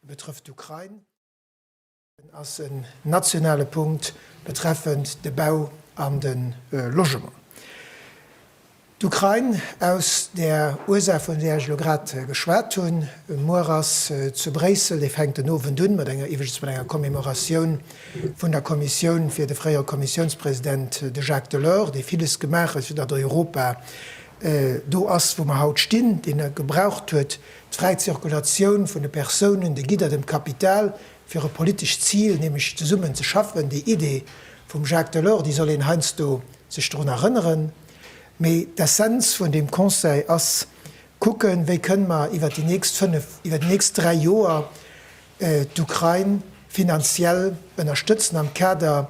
Betrëfft d'Ukrain. Dësen ass en nationale Punkt betreffend de Bau an de Logement. D'Ukrain, aus där Ursaach, vun där ech elo grad geschwat hunn. Muer ass zu Bréissel, dee fänkt den Owend un, mat enger, iwwregens mat enger Commemoratioun vun der Kommissioun fir de fréiere Kommissiounspresident, de Jacques Delors, dee villes gemaach huet, fir datt Europa do ass, wou mer haut stinn, deen e gebraucht huet, d'fräi Zirkulatioun vun de Persounen, de Gidder, dem Kapital, fir e politescht Zil, nämlech zesummen ze schaffen, déi Idee vum Jacques Delors, déi soll een heiansdo sech drun erënneren. Mee d'Essenz vun deem Conseil ass, kucken, wéi kënnen mer iwwert déi nächst fënnf, iwwert déi nächst dräi Joer, d'Ukrain finanziell ënnerstëtzen am Kader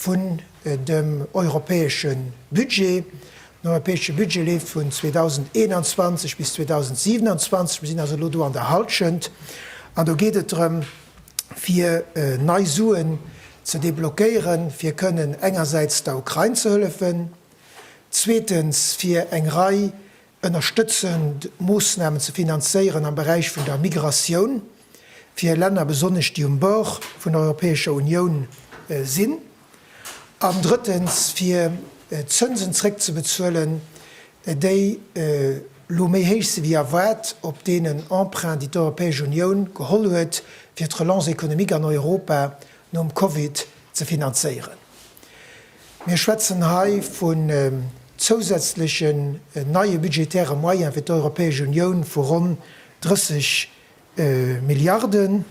vun dem europäesche Budget. Den europäesche Budget leeft vun 2021 bis 2027. Mir sinn also elo do an der Hallschent an do geet et drëm, fir nei Suen ze deblockéieren, fir kënnen engersäits der Ukrain ze hëllefen, zweetens fir eng Rei Ënnerstëtzend Moossnamen ze finanzéieren am Beräich vun der Migratioun fir Länner, besonnesch déi um Bord vun der Europäescher Unioun sinn. An drëttens, fir d'Zënsen zréckzebezuelen, déi elo méi héich si wéi erwaart, op deenen Emprunten, déi d'Europäesch Unioun geholl huet, fir d'Relance économique an Europa nom Covid ze finanzéieren. Mir schwätzen hei vun zousätzlechen neie budgetäre Moyene fir d'Europäesch Unioun vu ronn 30 Milliarden.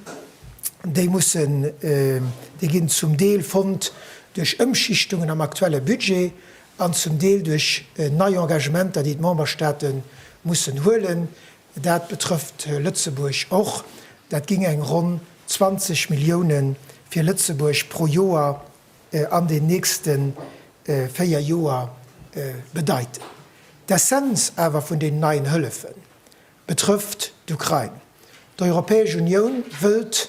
Déi mussen, déi ginn zum Deel fonnt duerch Ëmschichtungen am aktuelle Budget an zum Deel duerch nei Engagementer, déi d'Memberstate mussen huelen. Dat betrëfft Lëtzebuerg och. Dat géing eng ronn 20 Milliounen fir Lëtzebuerg pro Joer an den nächste véier Joer bedeiten. D'Essenz awer vun deenen neien Hëllefe betrëfft d'Ukrain. D'Europäesch Unioun wëllt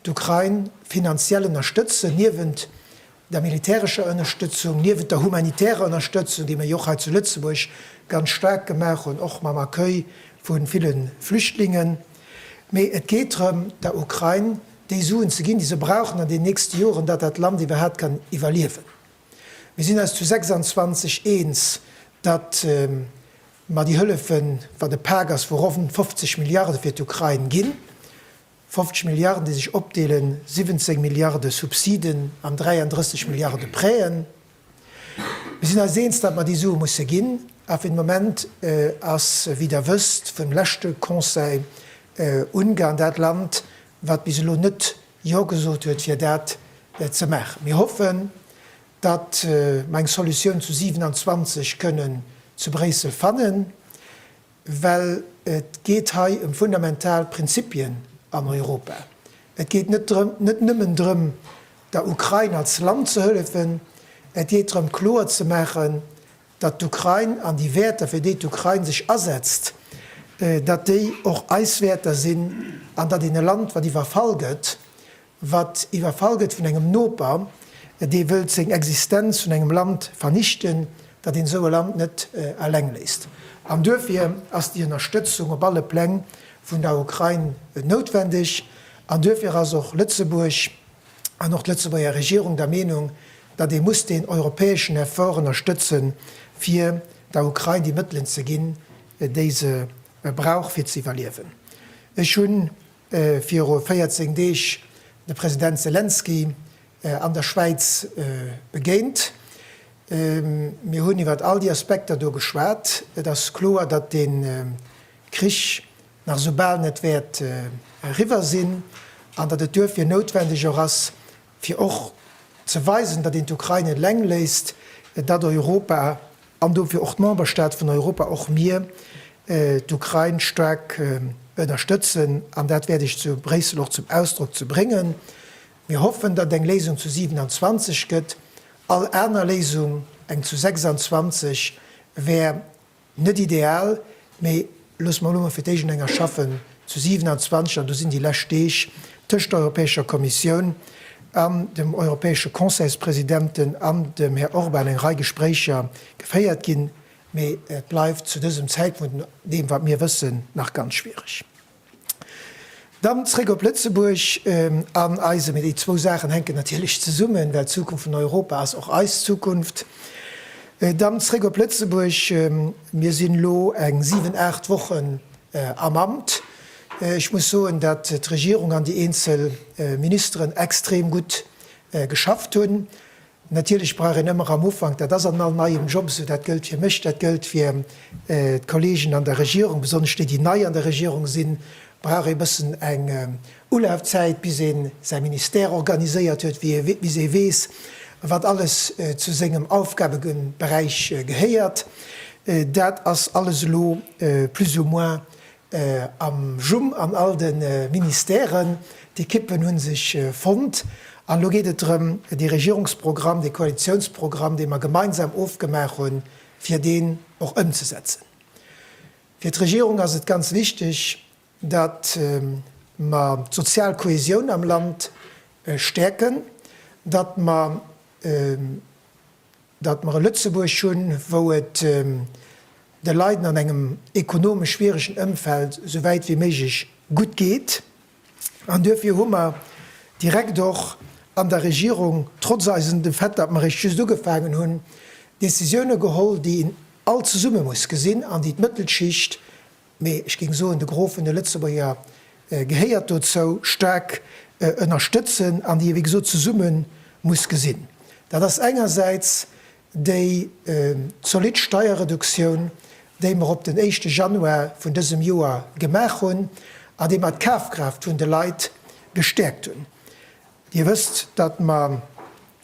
d'Ukrain finanziell ënnerstëtzen, niewent der militärescher Ënnerstëtzung, niewent der humanitärer Ënnerstëtzung, déi mir jo och hei zu Lëtzebuerg ganz staark gemaach hunn, och mam Accueil vu ville Flüchtlingen. Mee et geet drëm, der Ukrain déi Suen ze ginn, déi se brauchen an den nächste Joren, datt dat Land iwwerhaapt kann iwwerliewen. Mir sinn eis zu 26 eens, datt mer déi Hëllefen, wat e Pak ass vu ronn 50 Milliarde fir d'Ukrain ginn, 50 Milliarden, déi sech opdeelen, 17 Milliarde Subsiden an 33 Milliarde Prêten, Mir sinn eis eens, datt mer déi Sue musse ginn, a fir de Moment ass, wéi Der wësst, vum leschte Conseil Ungarn dat Land, wat bis elo net Jo gesot huet, fir dat ze maachen. Mir hoffen, datt mer eng Solutioun zu 27 kënnen zu Bréissel fannen. Well et geet hei ëm fundamental Prinzipien an Europa. Et geet net drëm, net nëmmen drëm, der Ukrain als Land ze hëllefen, et geet drëm kloer ze maachen, datt d'Ukrain an déi Wäerter, fir déi d'Ukrain sech asetzt, datt déi och eis Wäerter sinn an datt een e Land, wat iwwerfall gëtt, wat iwwerfall gëtt vun engem Noper, dee wëllt seng Existenz vun engem Land vernichten, datt een esou e Land net eleng léisst. An duerfir ass déi Ënnerstëtzung op alle Pläng vun der Ukrain noutwendeg. An duerfir ass och Lëtzebuerg an och d'Lëtzebuerger Regierung der Meenung, datt ee muss deen europäeschen Effort ënnerstëtzen, fir der Ukrain déi Mëttelen ze ginn, déi se brauch, fir ze iwwerliewen. Ech hunn viru 14 Deeg de President Selenskyj an der Schwäiz begéint. Mir hunn iwwert all déi Aspekter do geschwat. Et ass kloer, datt dee Krich nach esou bal net wäert eriwwer sinn an datt et duerfir noutwendeg och ass, fir och ze weisen, datt een d'Ukrain net eleng léisst, datt Europa an dofir och d'Memberstaate vun Europa, och mir, d'Ukrain staark ënnerstëtzen. An dat wäert ech zu Bréissel och zum Ausdrock ze bréngen. Mir hoffen, datt et eng Léisung zu 27 gëtt. All aner Léisung, eng zu 26, wär Net ideal, mee loosse mer elo mol fir d'éischt enger schaffen zu 27, an do sinn déi lescht Deeg tëscht der Europäescher Kommissioun an dem europäesche Conseilspresidenten an dem Här Orban eng Rei Gespréicher geféiert ginn, mee et bleift zu dësem Zäitpunkt, no deem wat mir wëssen, nach ganz schwiereg. Dann zréck op Lëtzebuerg an eise Mee. Déi zwou Saachen hänken natierlech zesummen, well d'Zukunft vun Europa ass och eis Zukunft. Dann zréck op Lëtzebuerg. Mir sinn elo eng siwen, aacht Wochen am Amt. Ech muss soen, datt d'Regierung an déi eenzel Ministeren extrem gutt geschafft hunn. Natierlech brauch een ëmmer am Ufank, dat ass an all neiem Job esou, dat gëllt fir mech, dat gëllt fir d'Kollegen an der Regierung, besonnesch déi, déi nei an der Regierung sinn, brauch ee bëssen eng Ulafzäit, bis ee säi Ministère organiséiert huet, bis ee weess, wat alles zu sengem Aufgabeberäich gehéiert. Dat ass alles elo plus ou moins Am Jum an all de Ministèren, d'Ekippen hu sech fonnt an elo geet et drëm, dee Regierungsprogramm, dee Koalitiounsprogramm, dee mer gemeinsam ofgemaach hunn, fir deen och ëmzesetzen. Fir d'Regierung ass et ganz wichteg, datt mer d'sozial Kohäsioun am Land stäerken, datt mer datt mer e Lëtzebuerg hunn, wou et de Leiden an engem ekonomesch schwieregen Ëmfeld esou wäit wéi méiglech gutt geet. An duerfir hu mer direkt och an der Regierung, trotz eisen, dem Fait, datt mer eréischt just ugefaangen hunn, Décisiounen geholl, déi een all zesumme muss gesinn an déi d'Mëttelschicht mee ech géing soen, de Gros vun de Lëtzebuerger gehéiert dozou, staark ënnerstëtzen an déi ee wéi gesot zesumme muss gesinn. Dat ass engersäits déi zolidd Steierreduktioun, déi mer op den éischte Januar vun dësem Joer gemaach hunn a déi mer d'Kafkraaft vun de Leit gestäerkt hunn. Dir wësst, datt mer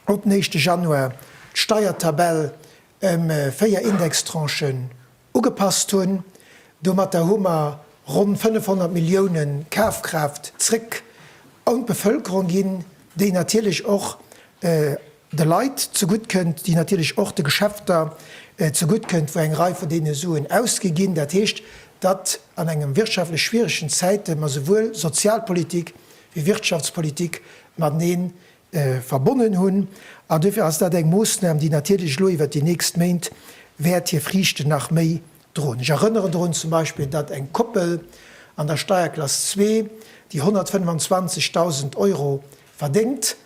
op den éischte Januar d'Steiertabell ëm véier Indextranchen Ugepasst hunn. Domatter hu mer ronn 500 Millioune Kafkraaft zréck un d'Bevëlkerung ginn, déi natierlech och de Leit zegutt kënnt, déi natierlech och de Geschäfter zegutt kënnt, wou eng Rei vun deene Suen ausgi ginn. Dat heescht, datt an engem wirtschaftlech schwieregen Zäite mer souwuel Sozialpolitik wéi Wirtschaftspolitik matenee verbonnen hunn, an dofir ass dat eng Moossnam, déi natierlech elo iwwert déi nächst Méint wäert hir Friichten nach méi droen. Ech erënneren drun zum Beispill, datt eng Koppel an der Steierklass zwee, déi 125.000 Euro verdéngt,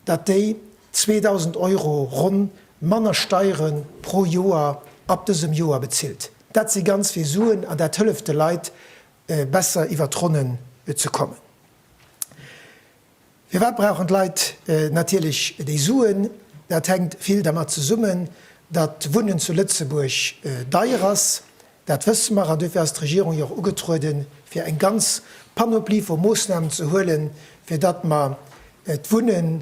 datt déi 2.000 Euro ronn manner Steiere pro Joer ab dësem Joer bezilt. Dat si ganz vill Suen an dat hëlleft de Leit besser iwwert d'Ronnen ze kommen. Firwat brauchen d'Leit natierlech déi Suen? Dat hänkt vill dermat zesummen, datt d'Wunnen zu Lëtzebuerg deier ass, dat wësse mer, an duerfir ass d'Regierung jo och ugetrueden, fir eng ganz Panoplie vu Moossnamen ze huelen, fir datt mer d'Wunne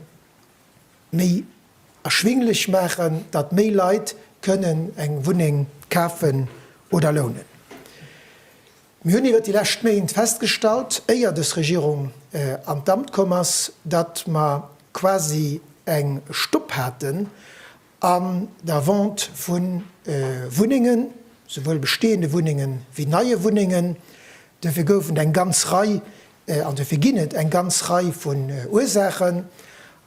méi erschwinglech maachen, datt méi Leit kënnen eng Wunneng kafen oder lounen. Mir hunn iwwert déi lescht Méint festgestallt, éier dës Regierung an d'Amt komm ass, datt mer quasi eng Stopp haten an der Vente vu Wunnengen, souwuel bestehende Wunnengen wéi neie Wunnengen. Dofir gouf et eng ganz Rei, an dofir ginn et eng ganz Rei vun Ursaachen.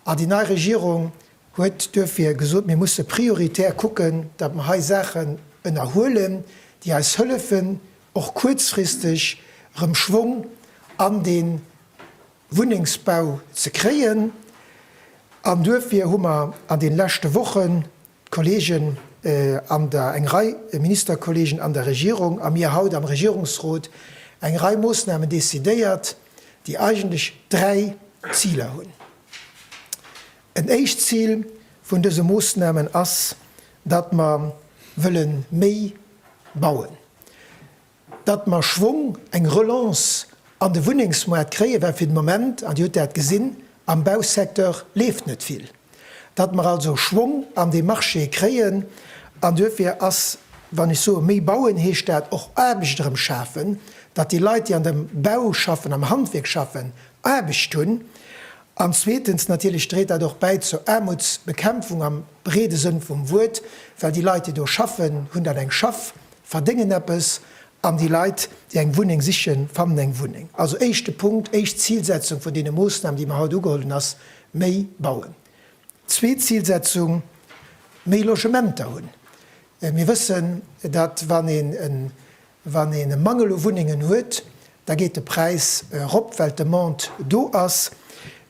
An déi nei Regierung huet duerfir gesot, mir musse prioritär kucken, datt mer hei Saachen ënnerhuelen, déi eis hëllefen, och kuerzfristeg erëm Schwong an de Wunnengsbau ze kréien. An duerfir hu mer an deene leschte Wochen, d'Kollegen an der, eng Rei Ministerkollegen an der Regierung a mir haut am Regierungsrot, eng Rei Moossnamen decidéiert, déi eigentlech dräi Ziler hunn. En éischt Zil vun dëse Moosnamen ass, datt mer wëlle méi bauen, datt mer Schwong, eng Relance an de Wunnengsmoart kréien, well fir de Moment, an Dir hutt dat gesinn, am Bausecteur leeft net vill, datt mer also Schwong an dee Marché kréien. An duerfir ass, wann ech soe méi bauen, heescht dat och Aarbecht erëm schafen, datt déi Leit, déi an dem Bau schaffen, am Handwierk schaffen, Aarbecht hunn. An zweetens natierlech dréit dat och bäi zur Aarmutsbekämpfung am breede Sënn vum Wuert, well déi Leit, déi do schaffen, hunn dann eng Schaff, verdéngen eppes an déi Leit, déi eng Wunneng sichen, fannen eng Wunneng. Also éischte Punkt, éischt Zilsetzung vun deene Moossnamen, déi mer haut ugeholl hunn, ass méi bauen. Zweet Zilsetzung, méi Logementer hunn. Mir wëssen, datt wann een e Wann een e Mangel u Wunnengen huet, da geet de Präis erop, well d'Demande do ass.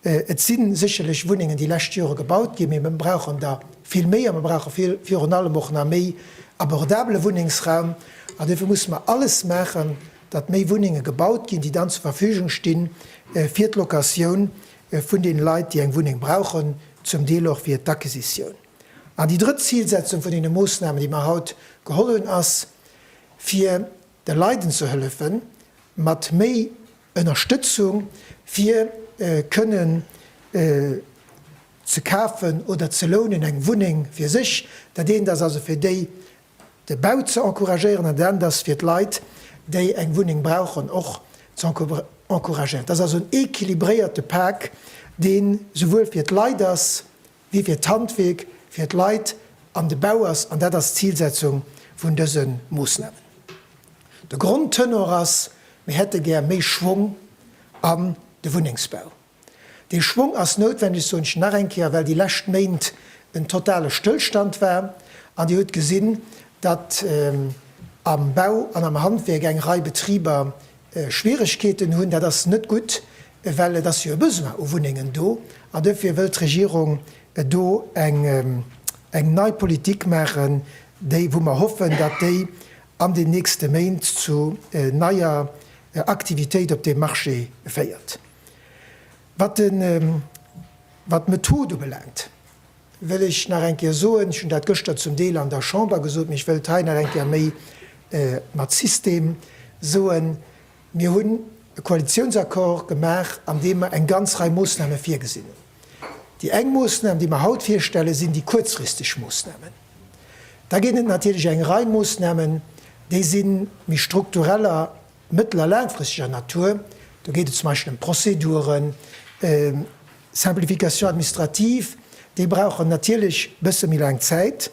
Et si sécherlech Wunnengen déi lescht Jore gebaut ginn, mee mer brauchen der vill méi a mer brauche virun allem och nach méi abordabele Wunnengsraum. An dofir musse mer alles maachen, datt méi Wunnenge gebaut ginn, déi dann zur Verfügung sti fir d'Locatioun vun deene Leit, déi eng Wunneng brauchen, zum Deel och fir d'Acquisitioun. An déi drëtt Zilsetzung vun deene Moossnamen, déi mer haut geholl hunn, ass, fir de Leiden ze hëllefen, mat méi Ënnerstëtzung fir kënnen ze kafen oder ze lounen, eng Wunneng fir sech. Dat eent ass also fir déi de Bau ze encouragéieren an dat anert ass fir d'Leit, déi eng Wunneng brauchen, och ze encouragéieren. Dat ass also en equilibréierte Pak, deen souwuel fir d'Leit ass Mir fir d'Handwierk, fir d'Leit an de Bau ass, an dat ass d'Zilsetzung vun dëse Moossnamen. De Grondtenor ass, mir hätte gär méi Schwong an de Wunnengsbau. Dee Schwong ass noutwendeg, soen ech nach eng Kéier, well déi lescht Méint en totale Stëllstand war. An Dir hutt gesinn, datt am Bau an am Handwierk eng Rei Betriber Schwieregkeeten hunn, dat ass net gutt, well et ass jo e Besoin u Wunnengen do. An dofir wëllt d'Regierung do eng nei Politik maachen, déi, wou mer hoffen, datt déi an den nächste Méint zu neier Aktivitéit op deem Marché féiert. Wat d'Method ubelaangt. wëll ech nach eng Kéier soen, ech hunn dat gëschter zum Deel an der Chamber gesot, mee ech wëll et hei nach eng Kéier méi mat System soen, Mir hunn e Koalitionsaccord gemaach, an deem mer eng ganz Rei Moosname virgesinn hunn. Déi eng Moosnam, déi mer haut virstellen, sinn déi kuerzfristeg Moosnamen. Da ginn et natierlech eng Rei Moosnamen, déi si méi struktureller. Mëttel a laangfristeger Natur, do geet et zum Beispill ëm Prozeduren, Simplification administrative, déi brauchen natierlech e bësse méi laang Zäit.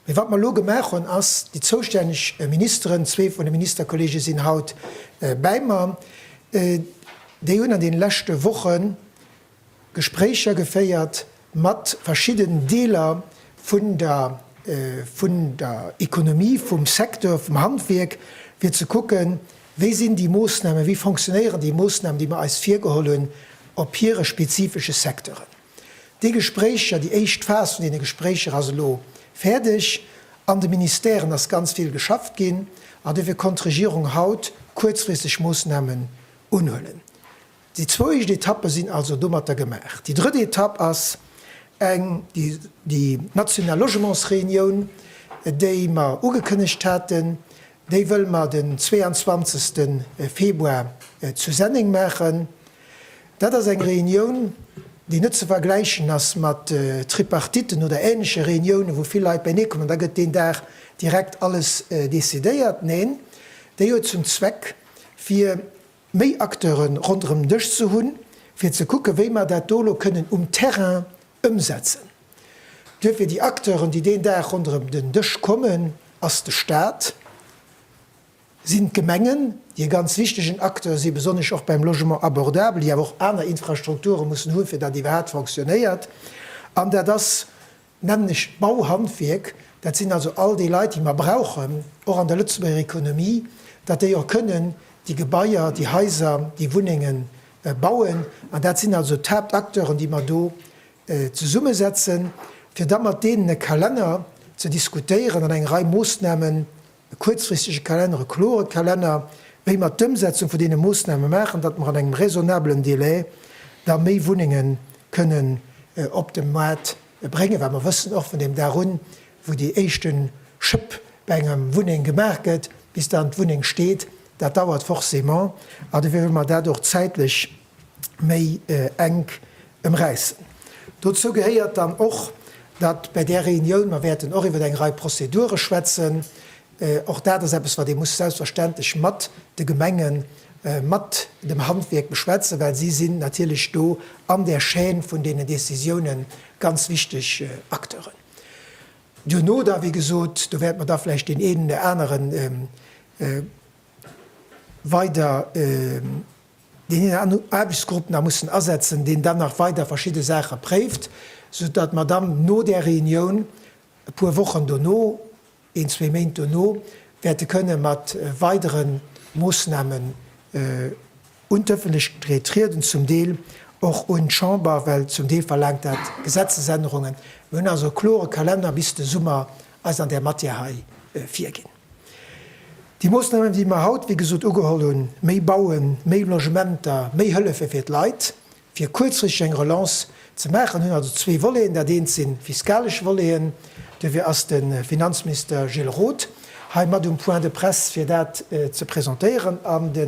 Mee wat mer elo gemaach hunn, ass, déi zoustänneg Ministeren, zwee vun de Ministerkollege sinn haut bäi mer, déi hunn an deene leschte Wochen, Gespréicher geféiert mat verschidden Deeler vun der vun der Ekonomie, vum Secteur, vum Handwierk, fir ze kucken, wéi sinn déi Moosnamen, wéi fonctionnéieren déi Moosnamen, déi mer eis virgeholl hunn op hire spezifesche Secteuren. Déi Gespréicher, déi éischt Phas vun deene Gespréicher ass elo fäerdeg. An de Ministèren ass ganz vill geschafft ginn an dofir konnt d'Regierung haut kuerzfristeg Moosnamen unhuelen. Déi zwou éischt Etappe sinn also domatter gemaach. Déi drëtt Etapp ass eng, déi national Logementsreunioun, déi mer ugekënnegt haten, déi wëlle mer den 22 Februar zu Senneng maachen. Dat ass eng Reunioun, déi net ze vergläichen ass mat Tripartitten oder ähnleche Reuniounen, wou vill Leit bäinee kommen an da gëtt deen Dag direkt alles decidéiert. Neen, déi huet zum Zweck, fir méi Acteuren ronderëm den Dësch ze hunn, fir ze kucken, wéi mer dat do elo kënnen um Terrain ëmsetzen. Duerfir, déi Acteuren, déi deen Dag ronderëm den Dësch kommen, ass de Stat, sinn d'Gemengen, déi e ganz wichtegen Acteur si besonnesch och beim Logement abordable, déi awer och aner Infrastrukture mussen hunn, fir datt iwwerhaapt fonctionnéiert, an dat ass Nämlech d'Bauhandwierk, dat sinn also all déi Leit, déi mer brauchen, och an der Lëtzebuerger Economie, datt déi och kënnen déi Gebaier, déi Haiser, déi Wunnenge bauen. An dat sinn also d'Haaptacteuren, déi mer do zesummesetzen, fir da mat deenen e Kalenner ze diskutéieren an eng Rei Moossnamen E kuerzfristege Kalenner, e klore Kalenner, wéi mer d'Ëmsetzung vun deene Moossname maachen, datt mer an engem raisonnabelen Délai da méi Wunnenge kënnen op de Maart bréngen, well mer wëssen och vun deem Dag un, wou déi éischte Schëpp bei enger Wunneng gemaach gëtt, bis dann d'Wunneng steet, dat dauert forcément. An dofir wëlle mer dat och zäitlech méi enk emräissen. Dozou gehéiert dann och, datt bäi där Reunioun, mer wäerten och iwwer eng Rei Prozedure schwätzen, och dat ass eppes, wat ee muss selbstverständlech mat de Gemengen, mat dem Handwierk beschwätzen, well si sinn natierlech do an där Chaîne vun deenen Décisiounen ganz wichteg Acteuren. Duerno da, wéi gesot, do wäerte mer da vläicht deen een oder anere weider, deen een an Aarbechtsgrupp nach mussen asetzen, deen dann nach weider verschidde Saache préift, sou datt mer dann no där Reunioun e puer Wochen dono, een, zwee Méint dono, wäerte kënne mat weidere Moossnamen un d'Ëffentlechkeet trieden, zum Deel och un d'Chamber, well zum Deel verlaangt dat Gesetzesännerungen. Mir hunn also e klore Kalenner bis de Summer eis an där Matière hei virginn. Déi Moosnamen, déi mer haut, wéi gesot, ugeholl hunn, méi bauen, méi Logementer, méi Hëllefe fir d'Leit, fir kuerzfristeg eng Relance ze maachen, hunn also zwee Voleten. Dat eent si fiskalesch Voleten. Duerfir ass de Finanzminister Gilles Roth hei mat um Point de presse, fir dat ze presentéieren, an de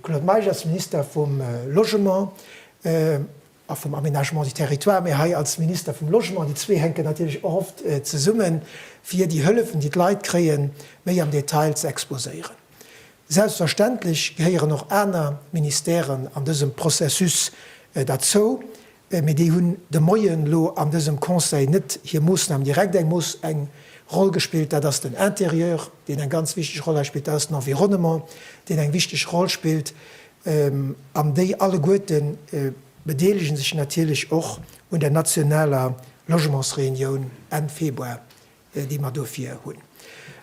Claude Meisch ass Minister vum Logement. A vum Aménagement du territoire, mee hei als Minister vum Logement, déi zwee hänken natierlech och oft zesummen, fir déi Hëllefen, déi d'Leit kréien, méi am Detail ze exposéieren. Selbstverständlech gehéieren och aner Ministèren an dësem Processus derzou, mee déi hunn de Moien elo an dësem Conseil net hir Moosnamen direkt. Eng Moos, eng Roll gespillt, dat ass den Intérieur, deen eng ganz wichteg Roll hei spillt, dat ass den Environnement, deen eng wichteg Roll spillt, An déi alleguerte bedeelege sech natierlech och un der nationaler Logementsreunioun Enn Februar, déi mer dofir hunn.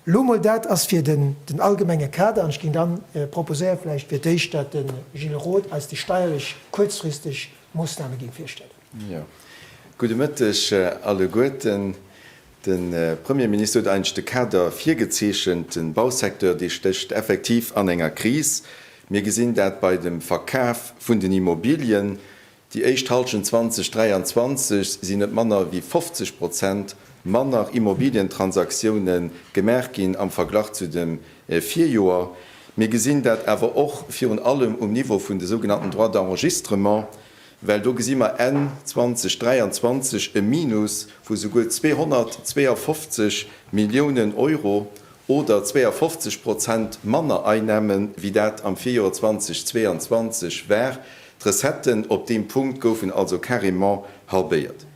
Elo mol, dat ass fir den allgemenge Kader. An ech géing da proposéiere vläicht fir d'éischt, datt de Gilles Roth eis déi steierlech kuerzfristeg Moossname géing virstellen. Jo. Gudde Mëtteg alleguerten. De Premierminister huet eigentlech de Kader virgezeechent. De Bausecteur, dee stécht effektiv an enger Kris. Mir gesinn dat bei dem Verkaf vun den Immobilien. Déi éischt Hallschent 2023 sinn net manner wéi 50 Prozent manner Immobilientransaktioune gemaach ginn am Verglach zu dem Virjoer. Mir gesinn dat awer och virun allem um Niveau vun de sougenannten Droits d'enregistrement. well do gesi mer Enn 2023 e Minus vu souguer 252 Milliounen Euro oder 52 Prozent manner Einnahme wéi dat am Virjoer 2022 war. D'Recetten op deem Punkt goufen also carrément halbéiert.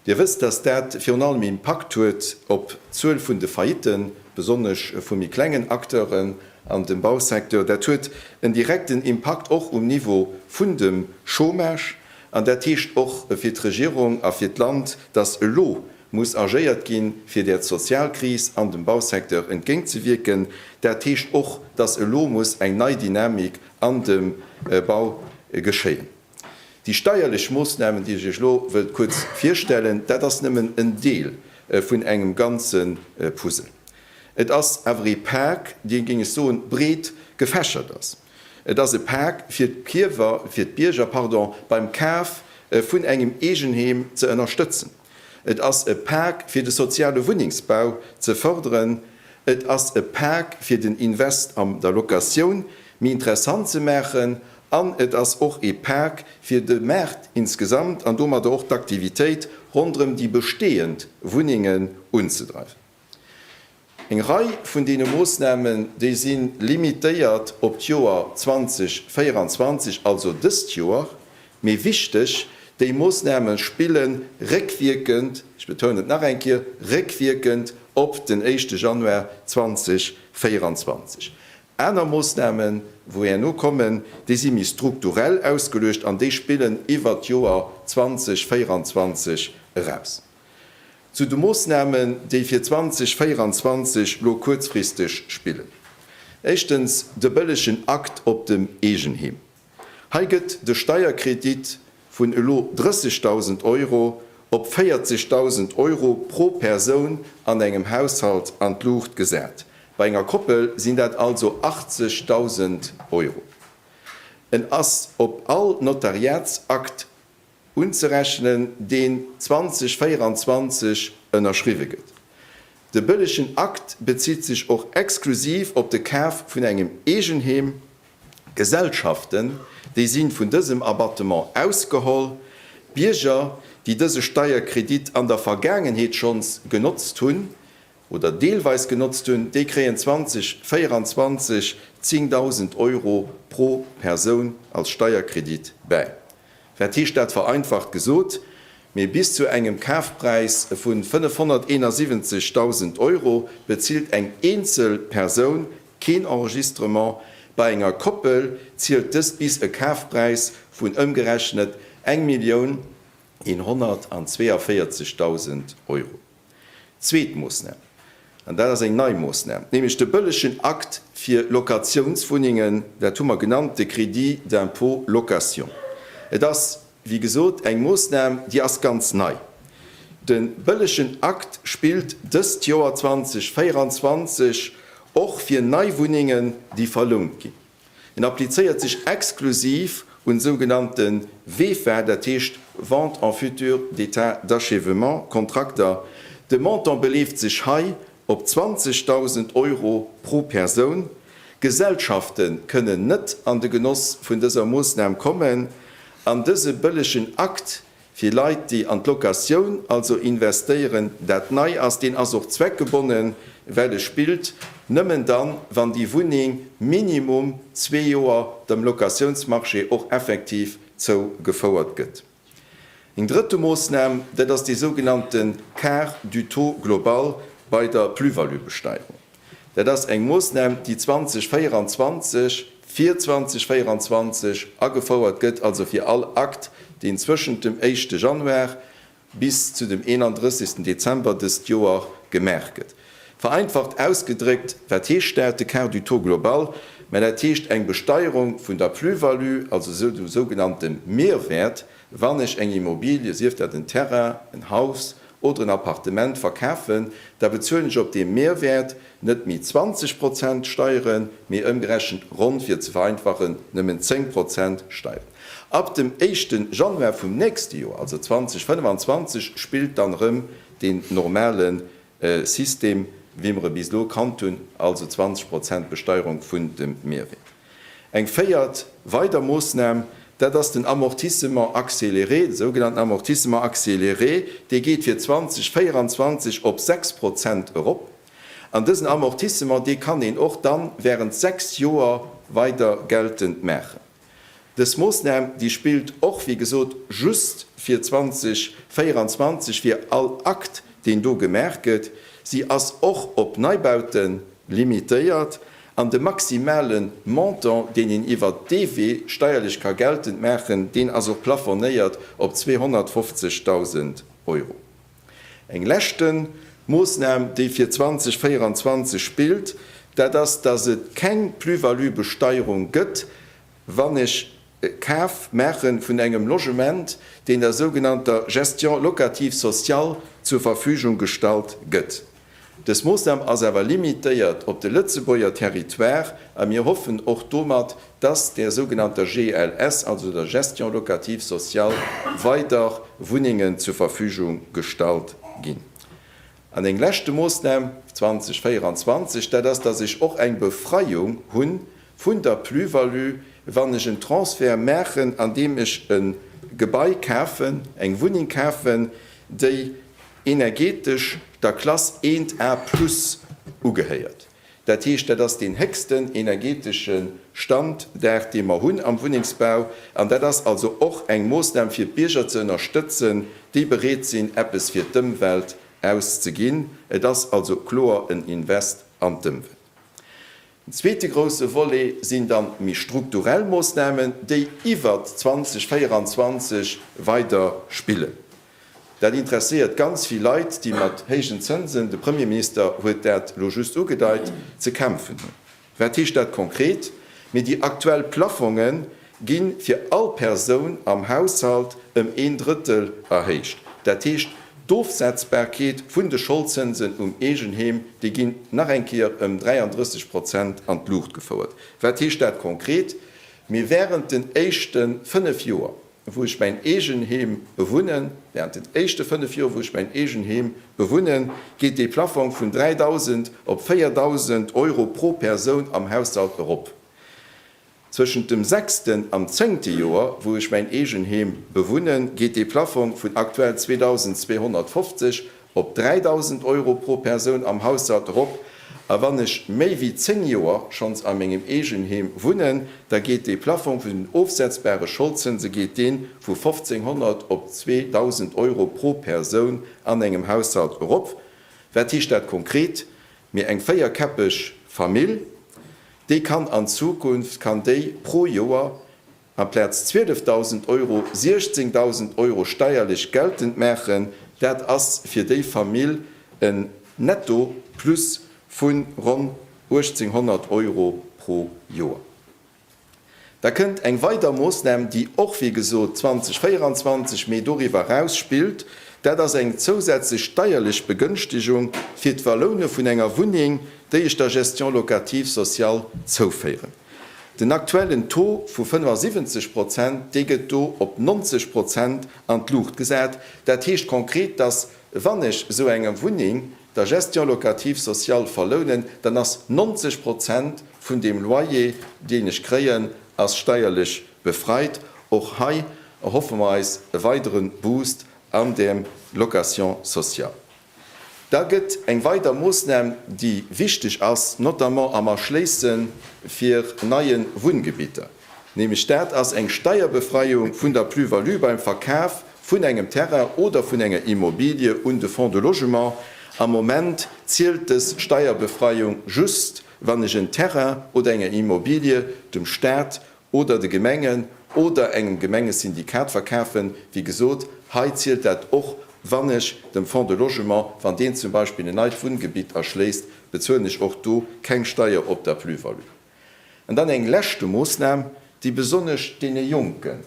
Dir wësst, dass dat virun allem ee Impakt huet op d'Zuel vun de Faillitten, besonnesch vu méi klengen Acteuren an dem Bausecteur. Dat huet en direkten Impakt och um Niveau vun dem Chômage. An dat heescht och fir d'Regierung a fir d'Land, dass elo muss agéiert ginn, fir där Sozialkris an dem Bausecteur entgéintzewierken. Dat heescht och, dass elo muss eng nei Dynamik an dem Bau geschéien. Déi steierlech Moossnamen, déi ech Iech elo wëllt kuerz virstellen, dat ass nëmmen en Deel vun engem ganze Puzzle. Et ass awer ee Pak, dee, géing ech soen, breet gefächert ass. Et ass e Pak, fir d'Kiewer, fir d'Bierger, pardon, beim Kaf vun engem Eegenheem ze ënnerstëtzen. Et ass e Pak fir de soziale Wunnengsbau ze fërderen. Et ass e Pak fir den Invest am der Locatioun méi interessant ze maachen. An et ass och e Pak fir de Maart insgesamt an domadder och d'Aktivitéit ronderëm déi bestehend Wunnengen unzedreiwen. Eng Rei vun deene Moossnamen, déi si limitéiert op d'Joer 2024, also dëst Joer. Mee wichteg, déi Moossname spille réckwierkend, ech betounen et nach eng Kéier, réckwierkend op den éischte Januar 2024. Aner Moossnamen, wou herno kommen, déi si méi strukturell ausgeluecht an déi spillen iwwert d'Joer 2024 eraus. Zu de Moossnamen, déi fir 2024 lo kuerzfristeg spillen. Éischtens de bëllegen Akt op dem Eegenheem. Hei gëtt de Steierkredit vun elo 30.000 Euro op 40.000 Euro pro Persoun an engem Haushalt an d'Luucht gesat. Bei enger Koppel sinn dat also 80.000 Euro. En ass op all Notariatsakt unzerechnen, deen 2024 ënnerschriwwe gëtt. De bëllegen Akt bezitt sech och exklusiv op de Kaf vun engem Eegenheem. Gesellschaften, déi sinn vun dësem Abattement ausgeholl. Bierger, déi dëse Steierkredit an der Vergaangenheet schonns genotzt hunn, oder deelweis genotzt hunn, déi kréien 2024 10.000 Euro pro Persoun als Steierkredit bäi. Wat heescht dat vereinfacht gesot? Mee bis zu engem Kafpräis vu 571.000 Euro bezilt eng eenzel Persoun keen Enregistrement, bei enger Koppel zielt dëst bis e Kafpräis vun ëmgerechnet 1.142.000 Euro. Zweet Moossnam, an dat ass eng nei Moossnam, nämlech de bëllegen Akt fir Locatiounswunnengen, dat hu mer genannt de Crédit d'impôt location. Et ass, wéi gesot, eng Moossnam, déi ass ganz nei. De bëllegen Akt spillt dëst Joer 2024 och fir nei Wunnengen, déi verlount ginn. En applizéiert sech exklusiv un sougenannte VEFA, dat heescht Vente en futur d'état d'achèvement, Kontrakter. De Montant beleeft sech hei op 20.000 Euro pro Persoun. Gesellschafte kënnen net an de Genoss vun dëser Moossnam kommen an dëse bëllegen Akt Fir Leit, déi an d'Locatioun also investéieren, dat nei ass, deen ass och zweckgebonnen, well e spillt nëmmen dann, wann déi Wunneng minimum zwee Joer dem Locatiounsmarché och effektiv zou gefouert gëtt. Eng drëtte Moossnam, dat ass dee sougenannte Quart du taux global bei der Plus-value-Besteierung. Dat ass eng Moossnam, déi 2024, fir 2024 agefouert gëtt, also fir all Akt, deen zwëschent dem éischte Januar bis zu dem 31. Dezember dëst Joer gemaach gëtt. Vereinfacht ausgedréckt, wat heescht dat? De Quart du taux global, mä dat heescht eng Besteierung vun der Plus-value, also dem sougenannte Mehrwert, Wann ech eng Immobilie, sief dat en Terrain, en Haus oder en Appartement, verkafen, da bezuelen ech op deem Mehrwäert net méi 20 Prozent Steieren, mee ëmgerechent ronn, fir et ze vereinfachen, nëmmen 10 Prozent Steieren. Ab dem éischte Januar vum nächste Joer, also 2025, spillt dann erëm deen normale System, wéi mer e bis elo kannt hunn, also 20 Prozent Besteierung vun dem Mehrwäert. Eng véiert weider Moossnam, dat ass den Amortissement accéléré, de sougenannten Amortissement accéléré, dee geet fir 2024 op 6 Prozent erop. An dësen Amortissement, dee kann een och dann während 6 Joer weider geltend maachen. Dës Moossnam, déi spillt och, wéi gesot, just fir 2024, fir all Akt, deen do gemaach gëtt. Si ass och op Neibaute limitéiert. An de maximale Montant, deen een iwwer dee Wee steierlech ka geltend maachen, deen ass och plafonéiert op 250.000 Euro. Eng leschte Moossnam, déi fir 2024 spillt, dat ass, dass et keng Plus-value-Besteierung gëtt wann ech e Kaf maache vun engem Logement, deen der sougenannter Gestion locative sociale zur Verfügung gestallt gëtt. Dës Moossnam ass awer limitéiert op de Lëtzebuerger Territoire a mir hoffen och domat, dass der sougenannter GLS, also der Gestion locative sociale, weider Wunnengen zur Verfügung gestallt ginn. An eng leschte Moossnam 2024, dat ass, dass ech och eng Befreiung hu vun der Plus-value, wann ech en Transfert maachen, andeem ech e Gebai kafen, eng Wunneng kafen, déi energeetesch der Klass 1 A plus ugehéiert. Dat heescht, dat ass deen héchsten energetesche Standard, dee mer hunn am Wunnengsbau. An dat ass also och eng Moossnam, fir d'Bierger ze ënnerstëtzen, déi bereet sinn, eppes fir d'Ëmwelt auszeginn. Et ass also kloer en Invest an d'Ëmwelt. Den zweete grousse Volet sinn dann méi strukturell Moossnamen, déi iwwert 2024 weider spillen. Dat interesséiert ganz vill Leit, déi mat héijen Zënsen, de Premierminister huet dat elo just ugedeit, ze kämpfen hunn. Wat heescht dat konkret? Mee déi aktuell Plaffonge gi fir all Persoun am Haushalt ëm een Drëttel erhéicht. Dat heescht, d'Ofsetzbarkeet vun de Scholdzënsen um Eegenheem, déi ginn nach eng Kéier ëm 33 Prozent an d'Luucht gefouert. Wat heescht dat konkret? Mee wärend den éischte fënnef Joer wou ech mäin eegen Heem bewunnen, während den éischte 5 Joer, wou ech mäin eegen Heem bewunnen, geet dee Plaffong vun 3.000 op 4.000 Euro pro Persoun am Haushalt erop. Zwëschent dem sechsten an zëngte Joer, wou ech mäin eegen Heem bewunnen, geet dee Plaffong vun aktuell 2.250 op 3.000 Euro pro Persoun am Haushalt erop, a wann ech méi wéi 10 Joer schonns a mengem Eegenheem wunnen, da geet dee Plaffong vun den ofsetzbare Scholdzënse geet deen vu 1.500 op 2.000 Euro pro Persoun an engem Haushalt erop. Wat heescht dat konkret? Mir eng véierkäppeg Famill, déi kann an Zukunft kann déi pro Joer Amplaz 12.000 Euro 16.000 Euro steierlech geltend maachen. Dat ass fir déi Famill en Netto Plus vu ronn 1.800 Euro pro Joer. Da kënnt eng weider Moossnam, déi och wéi gesot 2024, mee doriwwer eraus spillt. Dat ass eng zousätzlech steierlech Begënschtegung fir d'Verloune vun enger Wunneng, déi ech der Gestion locative sociale zouféieren. Den aktuellen Taux vu 75 Prozent, dee gëtt do op 90 Prozent an d'Luucht gesat. Dat heescht konkret, dass, wann ech esou eng Wunneng der Gestion locative sociale verlounen, dann ass 90 Prozent vun deem Loyer, deen ech kréien, ass steierlech befreit. Och hei erhoffe mer eis e weidere Boost an der Location sociale. Da gëtt eng weider Moossnam, déi wichteg ass, notamment am Erschléisse fir neie Wunngebitter, nämlech dat ass eng Steierbefreiung vun der Plus-value beim Verkaf vun engem Terrain oder vun enger Immobilie un de Fonds de logement. Am Moment zielt dës Steierbefreiung just, wann ech en Terrain oder eng Immobilie dem Stat oder de Gemengen oder engem Gemengesyndikat verkafen, wéi gesot, hei zielt dat och, wann ech dem Fonds de Logement, wann deen zum Beispill en neit Wunngebitt erschléisst, bezuelen ech och do keng Steier op der Plus-value. An dann eng leschte Moosnam, déi besonnesch deene Jonken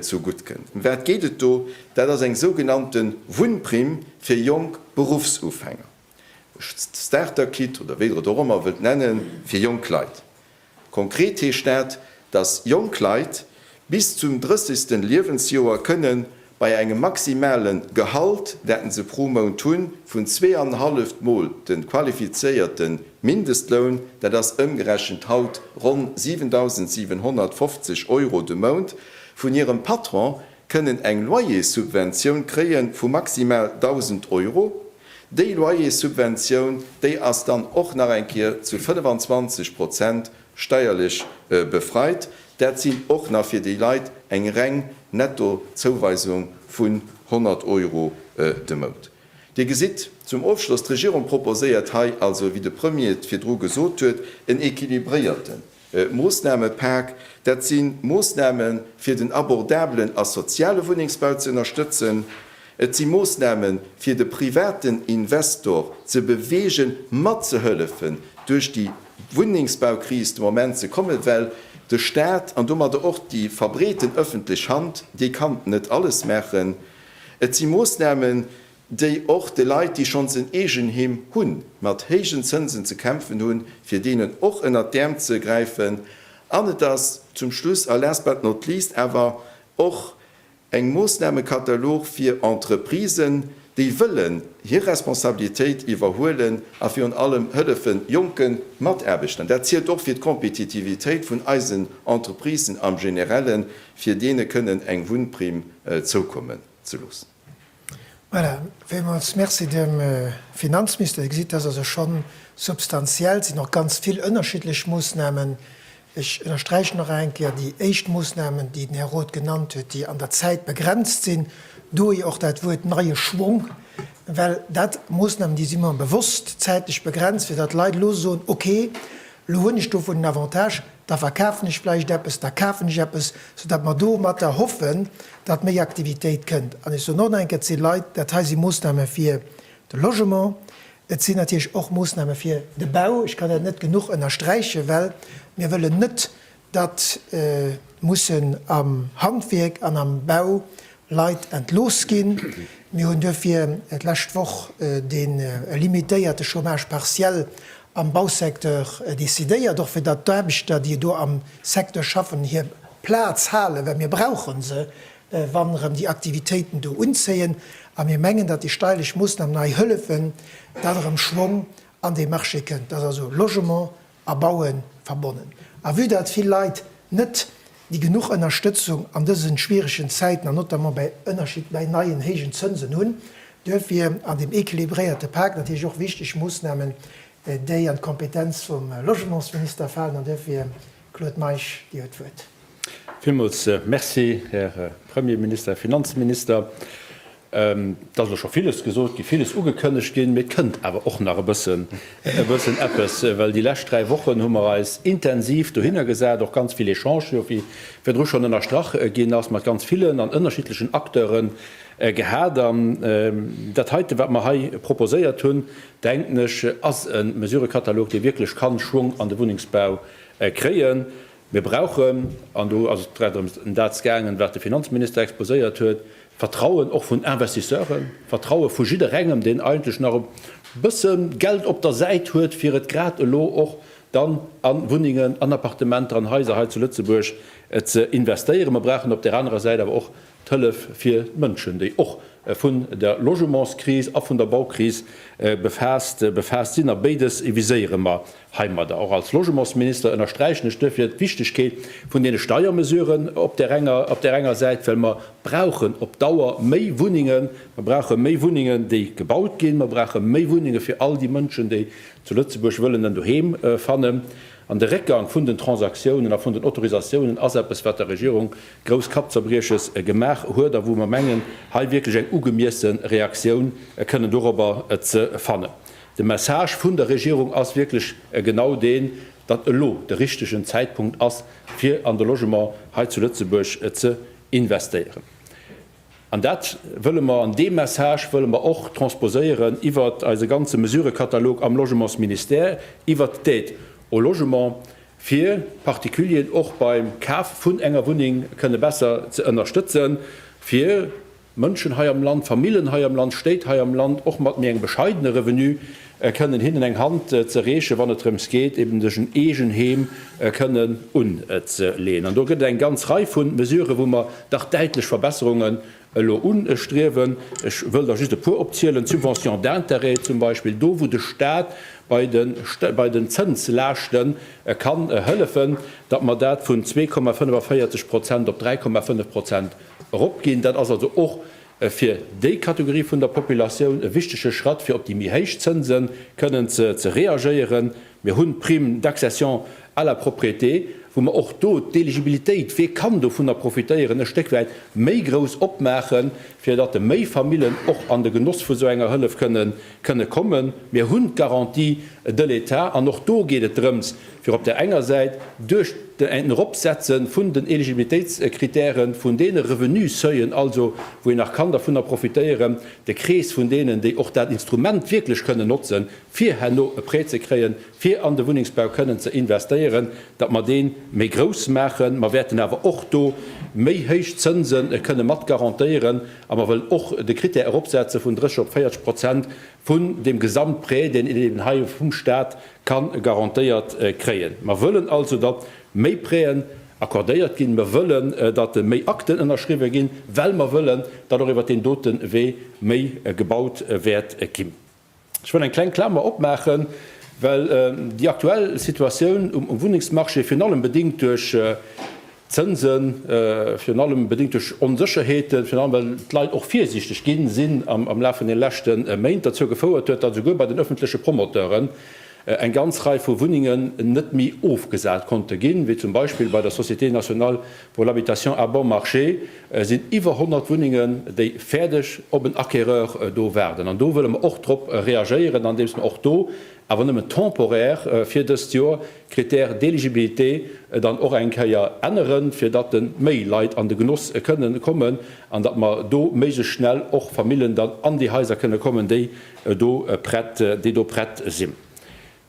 zu gutt kënnt. Ëm wat geet et do? Dat ass eng sougenannte Wunnprimm fir jonk Beruffsufänger, Starter-Kit oder wéi Der et och ëmmer wëllt nennen, fir jonk Leit. Konkret heescht dat, datt jonk Leit bis zum 30. Liewensjoer kënne bei engem maximale Gehalt, dat se pro Mount hunn, vun zweeanenhalleft Mol de qualifizéierte Mindestloun, dat ass ëmgerechent haut ronn 7.750 Euro de Mount, vun hirem Patron kënnen eng Loyerssubventioun kréie vu maximal 1.000 Euro. Déi Loyerssubventioun, déi ass dann och nach eng Kéier zu 25 Prozent steierlech befreit. Dat sinn och nach fir déi Leit eng reng Netto-Zouweisung vun 100 Euro de Mount. Dir gesitt zum Ofschloss, d'Regierung proposéiert hei also, wéi de Premier et virdru gesot huet, en equilibréierten Moossnamepak, dat si Moossname fir den abordabelen a soziale Wunnengsbau ze ënnerstëtzen. Et si Moossname fir de privaten Investor ze beweegen, matzehëllefen duerch déi Wunnengsbaukris de Moment ze kommen, well de Staat an domadder och déi verbreeten ëffentlech Hand, déi kann net alles maachen. Et si Moossname déi och de Leit, déi schonns en Eegenheem hunn, mat héijen Zënsen ze kämpfen hunn, fir deenen och ënnert d'Äerm ze gräifen. An et ass zum Schluss a last but not least awer och eng Moossnamekatalog fir Entreprisen, déi wëllen hir Responsabilitéit iwwerhuelen a virun allem hëllefen jonke Mataarbechtern. Dat zielt och fir d'Kompetitivitéit vun eisen Entreprisen am Generellen, fir deene kënnen eng Wunnprim zoukommen ze loossen. Voilà, villmools Merci dem Finanzmister. Dir gesitt, dass also scho substantiell, et sinn och ganz vill ënnerschiddlech Moosnamen. Ech ënnersträichen nach eng Kéier, déi éischt Moosnamen, déi den Här Roth genannt huet, déi an der Zäit begrenzt sinn, dohi och dat Wuert neie Schwung, well dat Moosnamen, déi si mer bewosst zäitlech begrenzt, fir datt d'Leit elo soen, okay, Lo hunn ech dovun en Avantage, da verkafen ech vläicht eppes, da kafen ech eppes, soudatt mer domatter hoffen, datt méi Aktivitéit kënnt. An ech soen och nach eng Kéier, et si Leit, dat hei si Moossname fir de Logement, et sinn natierlech och Moossname fir de Bau, ech kann dat net genuch ënnersträichen, well mir wëllen net datt mussen am Handwierk an am Bau Leit entlooss ginn, mir hunn duerfir d'lescht Woch de limitéierte Chômage partiel am Bausecteur decidéiert, och fir datt d'Aarbechter, déi do am Secteur schaffen, hir Plaz halen, well mir brauche se, wa rëm déi Aktivitéiten do unzéien. A mir mengen, datt déi steierlech Moossnamen hei hëllefen, datt erëm Schwong an dee Marché kënnt, datt also Logement, a Bauen verbonnen. A vue datt vill Leit net déi genuch Ënnerstëtzung an dësen schwieregen Zäiten, an notamment bäi Ënnerschied bäi neien héijen Zënsen hunn, duerfir an deem équilibréierte Pak natierlech och wichteg Moossnamen, déi an d'Kompetenz vum Logementsminister falen. An duerfir, Claude Meisch, Dir huet d'Wuert. Villmools Merci, Här Premierminister, Här Finanzminister. Et ass elo scho villes gesot ginn, villes ugekënnegt ginn, mee et kënnt awer och nach e bëssen, e bëssen eppes. Well déi lescht dräi Wochen hu mer eis intensiv dohinner gesat, och ganz vill Echangen, jo wéi virdru schonn ënnerstrach ginn ass, mat ganz villen an ënnerschiddlechen Acteure gehat. An dat heite, wat mer hei proposéiert hunn, denken ech, ass e Mesurëkatalog, dee wierklech kann Schwong an de Wunnengsbau kréien. Mir brauchen, an do ass et grad ëm dat gaangen, wat de Finanzminister exposéiert huet, Vertrauen och vun Investisseuren, Vertraue vu jidderengem, deen eigentlech nach e bësse Geld op der Säit huet, fir et grad elo och dann a Wunnengen, an Appartementer, an Haiser hei zu Lëtzebuerg ze investéieren. Mer brauchen op där anerer Säit awer och D'Hëllef fir d'Mënschen, déi och vun der Logementskris a vun der Baukris befaasst sinn, a béides viséiere mer heimadder. Och als Logementsminister ënnersträichen ech duerfir d'Wichtegkeet vun deene Steiermesuren op där enger Säit, well mer brauchen op Dauer méi Wunnengen, mer brauche méi Wunnengen, déi gebaut ginn, mer brauche méi Wunnenge fir all déi Mënschen, déi zu Lëtzebuerg wëllen en Doheem fannen. An de Réckgang vun den Transaktiounen a vun den Autorisatiounen ass eppes, wat der Regierung grouss Kappzerbrieches gemaach huet a wou mer mengen, hei wierklech eng ugemiesse Reaktioun kënnen dorobber ze fannen. De Message vun der Regierung ass wierklech genau deen, datt elo de richtegen Zäitpunkt ass, fir an de Logement hei zu Lëtzebuerg ze investéieren. An dat wëlle mer, an dee Message wëlle mer och transposéieren iwwert eise ganze Mesurëkatalog am Logementsministère, iwwert d'Aide au logement, fir d'Particulieren och beim Kaf vun enger Wunneng kënne besser ze ënnerstëtzen, fir Mënschen hei am Land, Famillen hei am Land, Stéit hei am Land, och mat méi engem bescheidene Revenu, kënnen hinnen eng Hand ze reechen, wann et drëms geet, eben sech en eegen Heem kënnen unzeleeën. An do gëtt et eng ganz Rei vu Mesuren, wou mer dach däitlech Verbesserungen elo ustriewen. Ech wëll der just e puer opzielen, d'Subventions d'intérêts zum Beispill, do wou de Stat bei den Zënslaaschte ka hëllefen, datt mer dat vun zwee Komma 45 Prozent op dräi Komma fënnef Prozent eropginn. Dat ass also och e fir déi Kategorie vun der Populatioun e wichtege Schratt, fir op déi méi héich Zënse kënnen ze reagéieren. Mir hunn d'Prime d'accession à la propriété, wou mer och do d'Eligibilitéit, wie kann dovunner profitéieren, e Stéck wäit méi grouss opmaachen, fir datt méi Famillen och an de Genoss vu sou enger Hëllef kënnen kënne kommen. Mir hunn d'Garantie de l'État an och do geet et drëms, fir op där enger Säit duerch en Eropsetze vun den Eligibilitéitscritèrë vun deene Revenus-Seuil'en, also wou een nach kann dovunner profitéieren, de Krees vun deenen, déi och dat Instrument wierklech kënnen notzen, fir herno e Prêt ze kréien, fir an de Wunnengsbau kënnen ze investéieren, datt mer dee méi grouss maachen. Mer wäerten awer och do méi héich Zënse kënne mat garantéieren. A mer wëllen och de Krittär eropsetze vun 30 op 40 Prozent vun deem Gesamtprêt, deen een eben hei vum Stat ka garantéiert kréien. Mer wëllen also, datt méi Prêten accordéiert ginn. Mer wëllen, datt méi Akten ënnerschriwwen ginn, well mer wëllen, datt och iwwert deen dote Wee méi gebaut wäert ginn. Ech wëll eng kleng Klamer opmaachen, well déi aktuell Situatioun um Wunnengsmarché virun allem bedéngt duerch d'Zënsen, virun allem bedéngt duerch Onsécherheeten, virun allem well d'Leit och virsiichteg gi sinn am Laf vun de leschte Méint, derzou gefouert huet, datt esouguer bei den ëffentleche Promoteuren eng ganz Rei vu Wunnengen net méi ofgesat konnte ginn, wéi zum Beispill bei der Société nationale pour l'habitation à bon marché sinn iwwer 100 Wunnengen, déi fäerdeg op en Acquéreur do waarden. An do wëlle mer och drop reagéieren, andeems mer och do, awer nëmmen temporaire fir dëst Joer, d'Critères d'éligibilité dann och eng Kéier änneren, fir datt de méi Leit an de Genoss kënnen kommen an datt mer do méiglechst schnell och Famillen dann an déi Haiser kënnen kommen, déi do prett, déi do prett sinn.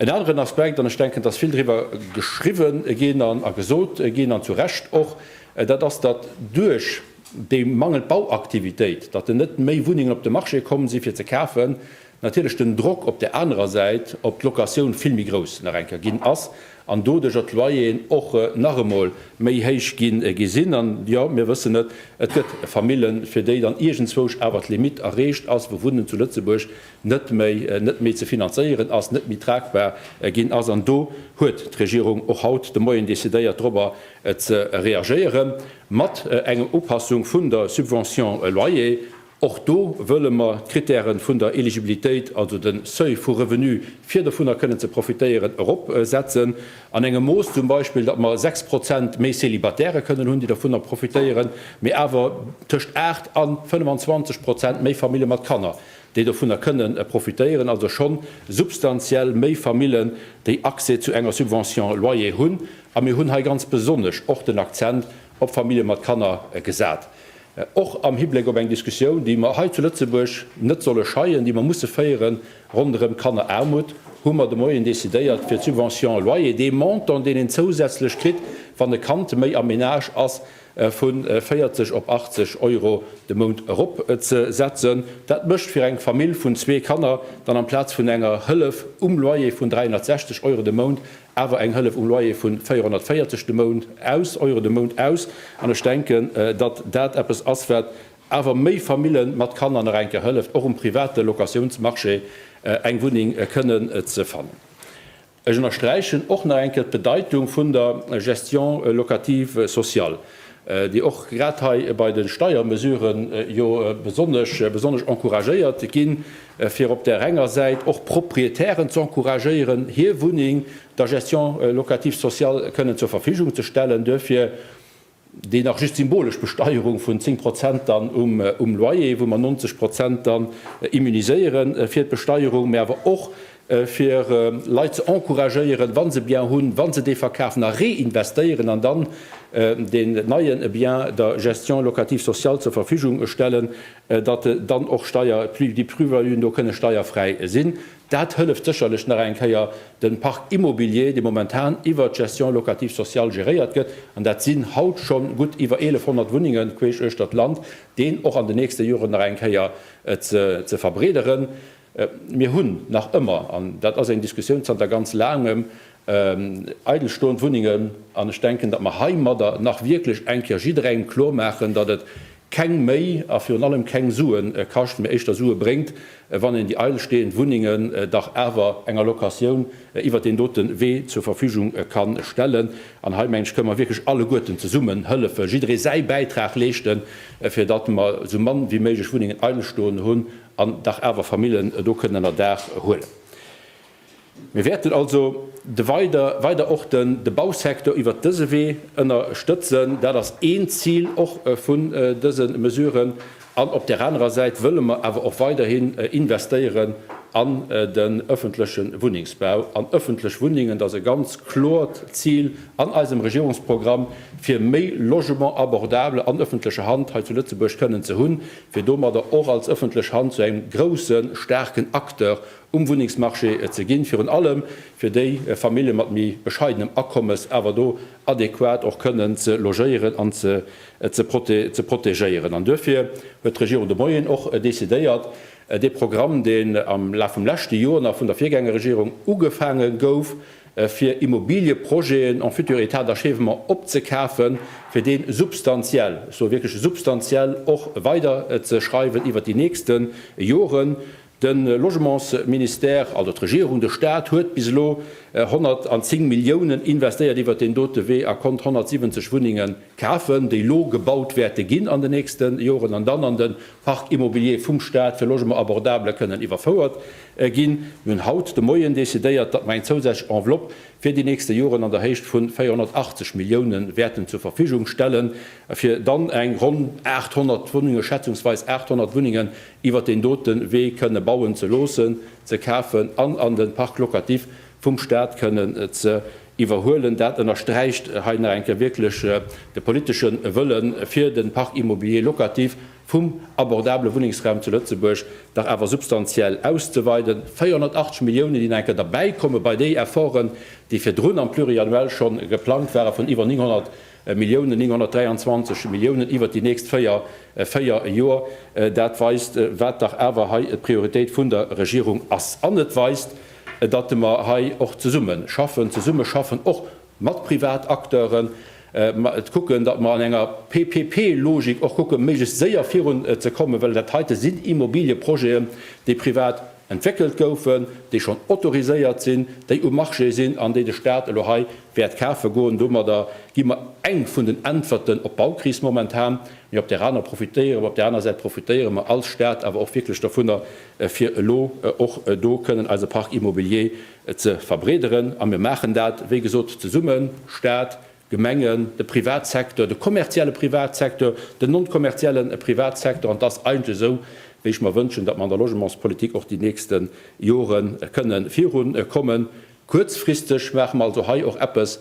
En aneren Aspekt, an ech denken, dass vill driwwer geschriwwe ginn a gesot ginn, an zu Recht och, dat ass, datt duerch déi mangelnd Bauaktivitéit, datt en net méi Wunnengen op de Marché komm si fir ze kafen, natierlech den Drock op där anerer Säit op d'Locatioun vill méi grouss nach eng Kéier ginn ass, an doduercher d'Loyeren och nach emol méi héich gi sinn an, jo, mir wëssen et, et gëtt Famillen, fir déi dann iergendzwousch awer d'Limitt erreecht ass, wou Wunnen zu Lëtzebuerg net méi, net méi ze finanzéieren ass, net méi tragbar ginn ass. An do huet d'Regierung och haut de Moien decidéiert, dorobber ze reagéieren mat enger Upassung vun der Subvention loyer. Och do wëlle mer d'Kritäre vun der Eligibilitéit, also de Seuil vu Revenu, fir dovunner kënnen ze profitéieren, eropsetzen. An engem Mooss zum Beispill, datt mer 6 Prozent méi Célibatairë kënnen hunn, déi dovunner profitéieren, mee awer tëscht 8 a 25 Prozent méi Famille mat Kanner, déi dovunner kënnen profitéieren. Also scho substantiell méi Famillen, déi Accès zu enger Subvention loyer hunn. A mir hunn hei ganz besonnesch och den Akzent op Famille mat Kanner gesat. och am Hibléck op eng Diskussioun, déi mer hei zu Lëtzebuerg net solle scheien, déi mer musse féieren, ronderëm Kanneraarmut, hu mer de Moien decidéiert, fir d'Subvention loyer, dee Montant, deen een zousätzlech kritt, wann e Kand méi am Menage ass, vu 40 op 80 Euro de Mount eropzesetzen. Dat mécht fir eng Famill vun zwee Kanner dann amplaz vun enger Hëllef um Loyer vun 360 Euro de Mount awer eng Hëllef um Loyer vun 440 de Mount aus, Euro de Mount aus, an ech denken, datt dat eppes ass, wat awer méi Famille mat Kanner nach eng Kéier hëlleft, och um private Locatiounsmarché eng Wunneng kënnen ze fannen. Ech ënnersträichen och nach eng Kéier d'Bedeitung vun der Gestion locative sociale. déi och grad hei bei de Steiermesuren jo besonnesch encouragéiert ginn, fir op där enger Säit och Proprietären ze encouragéieren, hir Wunneng der Gestion locative sociale kënnen zur Verfügung ze stellen, duerfir déi nach just symbolesch Besteierung vun 10 Prozent dann um Loyer, wou mer 90 Prozent dann immuniséiere fir d'Besteierung, mä awer och fir Leit ze encouragéieren, wa se Bien hunn, wa se dee verkafen a reinvestéieren an dann deen neien Bien der Gestion locative sociale zur Verfügung stellen, datt dann och Steier, déi Plus-valuën do kënne steierfräi sinn. Dat hëlleft sécherlech nach eng Kéier, de Parc immobilier, dee momentan iwwert d'Gestion locative sociale geréiert gëtt, an dat sinn haut scho gutt iwwer 1.100 Wunnengen queesch uechter d'Land, deen och an den nächste Joren nach eng Kéier ze verbreederen. Mir hunn nach ëmmer, an dat ass eng Diskussioun zanter ganz Laangem, eidelstoend Wunnengen. An ech denken, datt mer heimadder nach wierklech eng Kéier jidderengem kloer maachen, datt et keng méi a virun allem keng Sue kascht, mee éischter Sue bréngt, wann een déi eidelsteeënd Wunnengen dach awer enger Locatioun iwwert deen dote Wee zur Verfügung ka stellen. An hei, mengen ech, kënnen mer wierklech alleguerten zesummen hëllefen, jidderee säi Bäitrag leeschten, fir datt mer esou mann wéi méiglech Wunnengen eidelstoen hunn. an dach awer Famillen do kënnen ënnerdaach huelen. Mir wäerten also weider och de Bausecteur iwwert dëse Wee ënnerstëtzen. Dat ass een Zil och vun dëse Mesuren. An op där anerer Säit wëlle mer awer och weiderhin investéieren an den ëffentleche Wunnengsbau, an ëffentlech Wunnengen. Dat ass e ganz kloert Zil an eisem Regierungsprogramm, fir méi Logement abordable an ëffentlecher Hand hei zu Lëtzebuerg kënnen ze hunn. fir domadder och als ëffentlech Hand zu engem groussen, staarken Acteur um Wunnengsmarché ze ginn, virun allem fir déi Famillje mat méi bescheidenem Akommes awer do adäquat och kënnen ze logéieren an ze protegéieren. An duerfir huet d'Regierung de Moien och decidéiert, dee Programm, deen am Laf vum leschte Joer nach vun der Virgängerregierung ugefaange gouf, fir Immobiliëprojeten en futur état d'achèvement opzekafen, fir dee substantiell, ech soe wierklech substantiell, och weiderzeschreiwen iwwert déi nächste Joren. De Logementsministère, also d'Regierung, de Stat, huet bis elo 110 Milliounen investéiert iwwert deen dote Wee a konnt 170 Wunnenge kafen, déi elo gebaut wäerte ginn an den nächste Joren an dann an de Parc immobilier vum Staat fir Logement abordable kënnen iwwerfouert ginn. Mir hunn haut de Moien decidéiert, datt mer eng zousätzlech Enveloppe fir déi nächste Joren an der Héicht vun 480 Millioune wäerten zur Verfügung stellen, fir dann eng ronn 800 Wunnungen, schätzungsweis 800 Wunnungen, iwwert deen dote Wee kënne bauen ze loossen, ze kafen an an de Parc locatif vum Staat kënnen ze iwwerhuelen. Dat ënnersträicht hei nach eng Kéier wierklech de politesche Wëlle fir de Parc immobilier locatif vum abordabele Wunnengsraum zu Lëtzebuerg dach awer substantiell auszeweiden. 480 Milliounen, déi nach eng Kéier derbäikommen bei déi Efforten, déi virdrun am Pluriannuel scho geplangt ware vun iwwer 900 Milliounen, 923 Milliounen iwwert déi nächst véier Joer. Dat weist, wat dach awer hei d'Prioritéit vun der Regierung ass. An et weist, datt mer hei och zesumme schaffen, zesumme schaffen och mat Privatacteuren, kucken, datt mer an enger PPP-Logik och kucke méiglechst séier virun ze kommen, well dat heite sinn Immobilieprojeten, déi privat entwéckelt goufen, déi schonn autoriséiert sinn, déi um Marché sinn an déi de Stat elo hei wäert kafe goen. Domadder gi mer eng vun den Äntwerten op d'Baukris momentan, mee op där aner profitéiere mer, op där aner Säit profitéiere mer als Stat awer och wierklech dovunner, fir elo och do kënnen eise Parc immobilier ze verbreederen. A mir maachen dat, wéi gesot, zesummen, Staat, Gemengen, de Privatsecteur, de kommerzielle Privatsecteur, den non-kommerzielle Privatsecteur. An et ass eigentlech esou, wéi ech mer wënschen, datt mer an der Logementspolitik och déi nächste Jore kënnen virukommen. Kuerzfristeg maache mer also hei och eppes,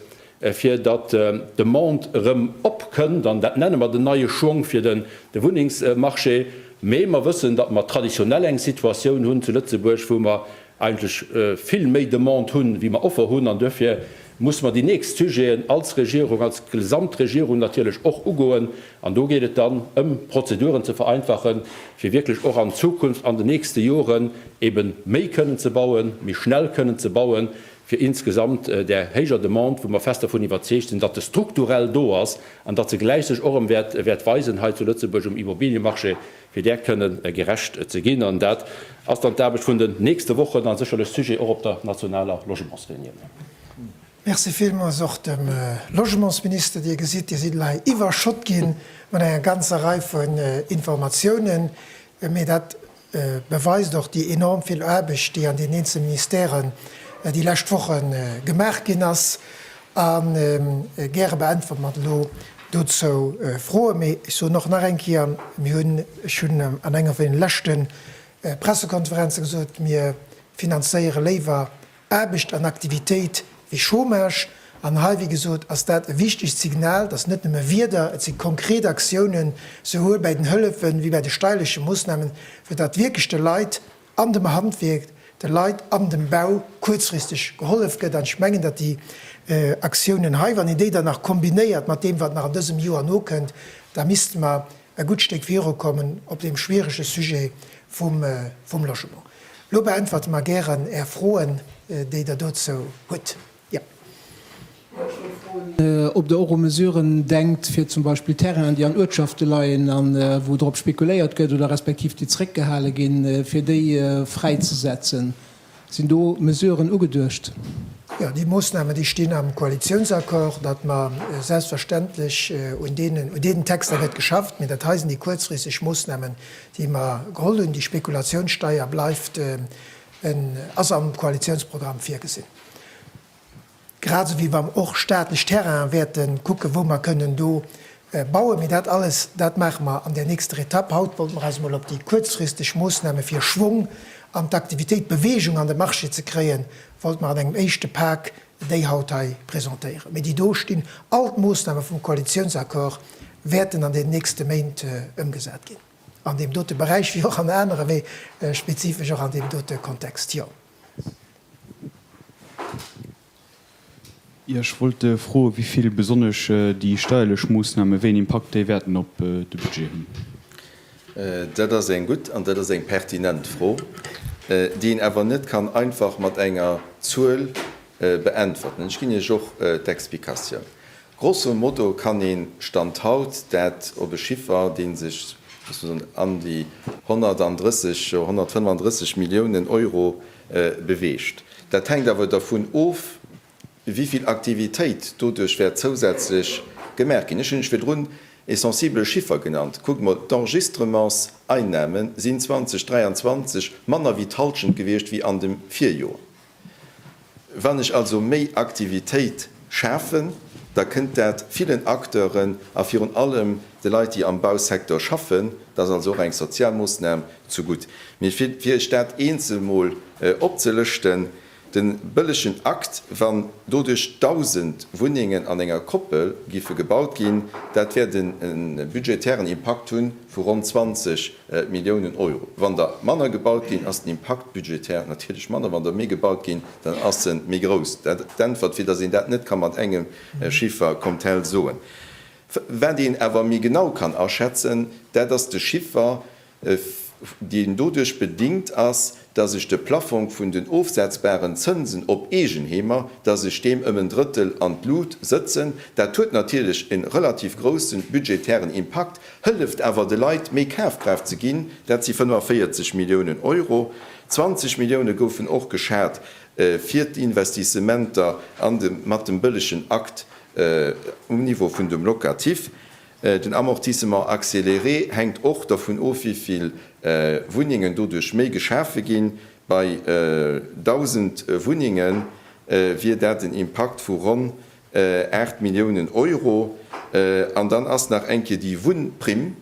fir datt d'Demande erëm opkënnt, an dat nenne mer den neie Schwong fir de Wunnengsmarché. Mee mer wëssen, datt mer traditionell eng Situatioun hunn zu Lëtzebuerg, wou mer eigentlech vill méi Demande hunn, wéi mer Offer hunn. An duerfir musse mer déi nächst Sujeten als Regierung, als Gesamtregierung natierlech och ugoen, An do geet et dann ëm Prozeduren ze vereinfachen, fir wierklech och an Zukunft, an den nächste Joren ebe méi kënnen ze bauen, méi schnell kënnen ze bauen, fir insgesamt där héijer Demande, wou mer fest dervun iwwerzeegt sinn, datt se strukturell do ass an datt se gläich sech och erëm wäert weisen hei zu Lëtzebuerg um Immobiliëmarché, fir där kënnen gerecht ze ginn. An dat ass dann d'Aarbecht vun den nächste Wochen a sécherlech Sujet och op der nationaler Logementsreunioun. Merci villmools och dem Logementsminister. Dir gesitt, Dir sidd hei iwwerschott gi mat enger ganzer Rei vun Informatiounen, mee dat beweist och déi enorm vill Aarbecht, déi an den eenzelne Ministèren déi lescht Woche gemaach ginn ass. A gäre beäntwert mer elo dozou Froen. Mee ech soen och nach eng Kéier, mir hunn, ech hunn an enger vun den leschte Pressekonferenze gesot, mir finanzéiere léiwer Aarbecht an Aktivitéit wéi Chômage. An hei, wéi gesot, ass dat e wichtegt Signal, dass net nëmme Wierder, et si konkret Aktiounen, souwuel bäi den Hëllefe wéi bäi de steirleche Moossnamen, fir datt wierklech de Leit an dem Handwierk, de Leit an dem Bau kuerzfristeg gehollef gëtt. An ech mengen, datt déi Aktiounen hei, wann een déi dann nach kombinéiert mat deem, wat nach an dësem Joer nokënnt, da misste mer e gutt Stéck virukommen op deem schwierege Sujet vum Logement. Lo beäntwerte mer gären Är Froen, déi Der dozou hutt. Yep. Ech wollt schonn froen, ob Der och u Mesuren denkt, fir zum Beispill Terrainen, déi an Uertschafte leien a wou drop spekuléiert gëtt oder respektiv déi zréckgehale ginn, fir déi fräizesetzen. Sinn do Mesuren ugeduecht? Jo, déi Moosnamen, déi stinn am Koalitiounsaccord, datt mer selbstverständlech un deenen Texter gëtt geschafft, mee dat hei sinn déi kuerzfristeg Moosnamen, déi mer geholl hunn, déi Spekulationssteuer bleift, ass am Koalitionsprogramm virgesinn, grad esou wéi wa mer och staatlech Terrainen wäerte kucken, wou mer kënnen do bauen. Mee dat alles, dat maache mer an där nächster Etapp. Haut wollte mer eis emol op déi kuerzfristeg Moosname fir Schwong an d'Aktivitéit, Bewegung an de Marché ze kréien, wollte mer an engem éischte Pak déi haut hei presentéieren, mee déi do stinn, all d'Moossname vum Koalitiounsaccord wäerten an den nächste Méint ëmgesat ginn, an deem dote Beräich wéi och an anere, mee spezifesch och an deem dote Kontext. Jo. Jo, ech wollt froen, wéi vill besonnesch déi steierlech Moossnamen, wéi en Impakt déi wäerten op de Budget hunn. Dat ass eng gutt an dat ass eng pertinent Fro, déi een awer net kann einfach mat enger Zuel beäntwerten. Ech ginn Iech och d'Explikatioun. Grosso modo kann ee Stand haut dat op e Chiffer, dee sech, loosse mer soen, an déi 130, jo 135 Milliounen Euro beweegt. Dat hänkt awer dervun of, wéi vill Aktivitéit doduerch wäert zousätzlech gemaach ginn. Ech hunn lech virdrun e sensibele Chiffer genannt. Kuckt emol, d'Enregistrementseinnahme sinn 2023 manner wéi d'Halschent gewiescht wéi an dem Virjoer. Wann ech also méi Aktivitéit schafen, da kënnt dat villen Acteuren a virun allem de Leit, déi am Bausecteur schaffen, dat ass also och eng sozial Moossnam, zu gutt. Mee fir Iech dat eenzel mol opzelëschten, Den bëllegen Akt, wann doduerch 1.000 Wunnengen an enger Koppel giffe gebaut ginn, dat wäert en budgetären Impakt hunn vu ronn 20 Milliounen Euro. Wann der manner gebaut ginn, ass den Impakt budgetär natierlech manner. Wann der méi gebaut ginn, dann ass en méi grouss. Dat d'Äntwert, fir datt een dat net ka mat engem Chiffer comme tel soen. Wat een awer méi genau kann aschätzen, dat ass de Chiffer, deen doduerch bedingt ass, dass ech de Plaffong vun den ofsetzbaren Zënsen op Eegenheemer, dass ech deem ëm en Drëttel an d'Lut sëtzen. Dat huet natierlech e relativ grousse budgetären Impakt, hëlleft awer de Leit méi Kafkraaft ze ginn. Dat si 45 Milliounen Euro. 20 Millioune goufen och geschat fir d'Investissementer mat dem bëllegen Akt um Niveau vun dem Locatif. Den Amortissement accéléré hänkt och dovun of, wéi vill Wunnengen doduerch méi geschafe ginn. Bei 1.000 Wunnenge wier dat en Impakt vu ronn 8 Milliounen Euro. An dann ass nach eng Kéier déi Wunnprimm,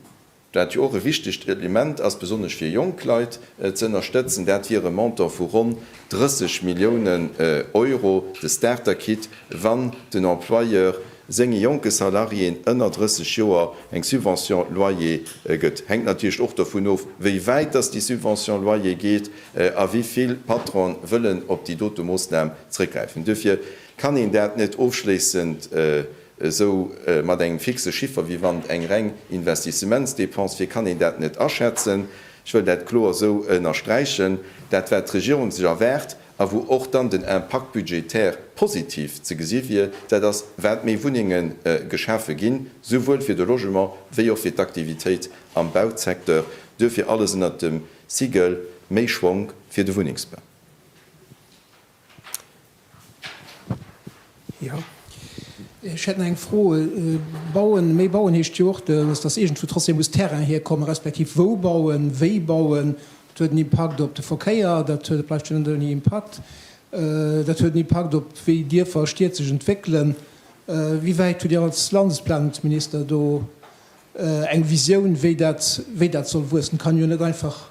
wat jo och e wichtegt Element ass, besonnesch fir jonk Leit ze ënnerstëtzen. Dat wier e Montant vu ronn 30 Milliounen Euro, de Starter-Kit, wann den Employeur senge jonke Salariéen ënner 30 Joer eng Subvention loyer gëtt, hänkt natierlech och dovun of, wéi wäit dass déi Subvention loyer geet a wéi vill Patronen wëllen op déi dote Moossnam zréckgräifen. Duerfir kann een dat net ofschléissend esou mat engem fixe Chiffer wéi wann eng reng Investissementsdépense wier, kann een dat net aschätzen. Ech wëll dat kloer esou ënnersträichen. Dat wat d'Regierung sech erwaart, a wou och dann den Impact budgétaire positiv ze gesi wier, dat ass, wat méi Wunnenge geschafe ginn, souwuel fir de Logement wéi och fir d'Aktivitéit am Bausecteur, duerfir alles ënnert dem Siegel méi Schwonk fir de Wunnengsbau. Jo, ech hätt nach eng Fro. Bauen, méi bauen heescht jo och, datt iergendwou trotzdem muss Terrain hierkommen, respektiv wou bauen, wéi bauen. Dat huet en Impakt op de Verkéier, dat huet, et bleift jo net ouni Impakt. Dat huet en Impakt op wéi Dierfer a Stied sech entwéckelen. Wéi wäit hutt Dir als Landesplanungsminister do eng Visioun, wéi dat, wéi dat soll wuessen? Et kann jo net einfach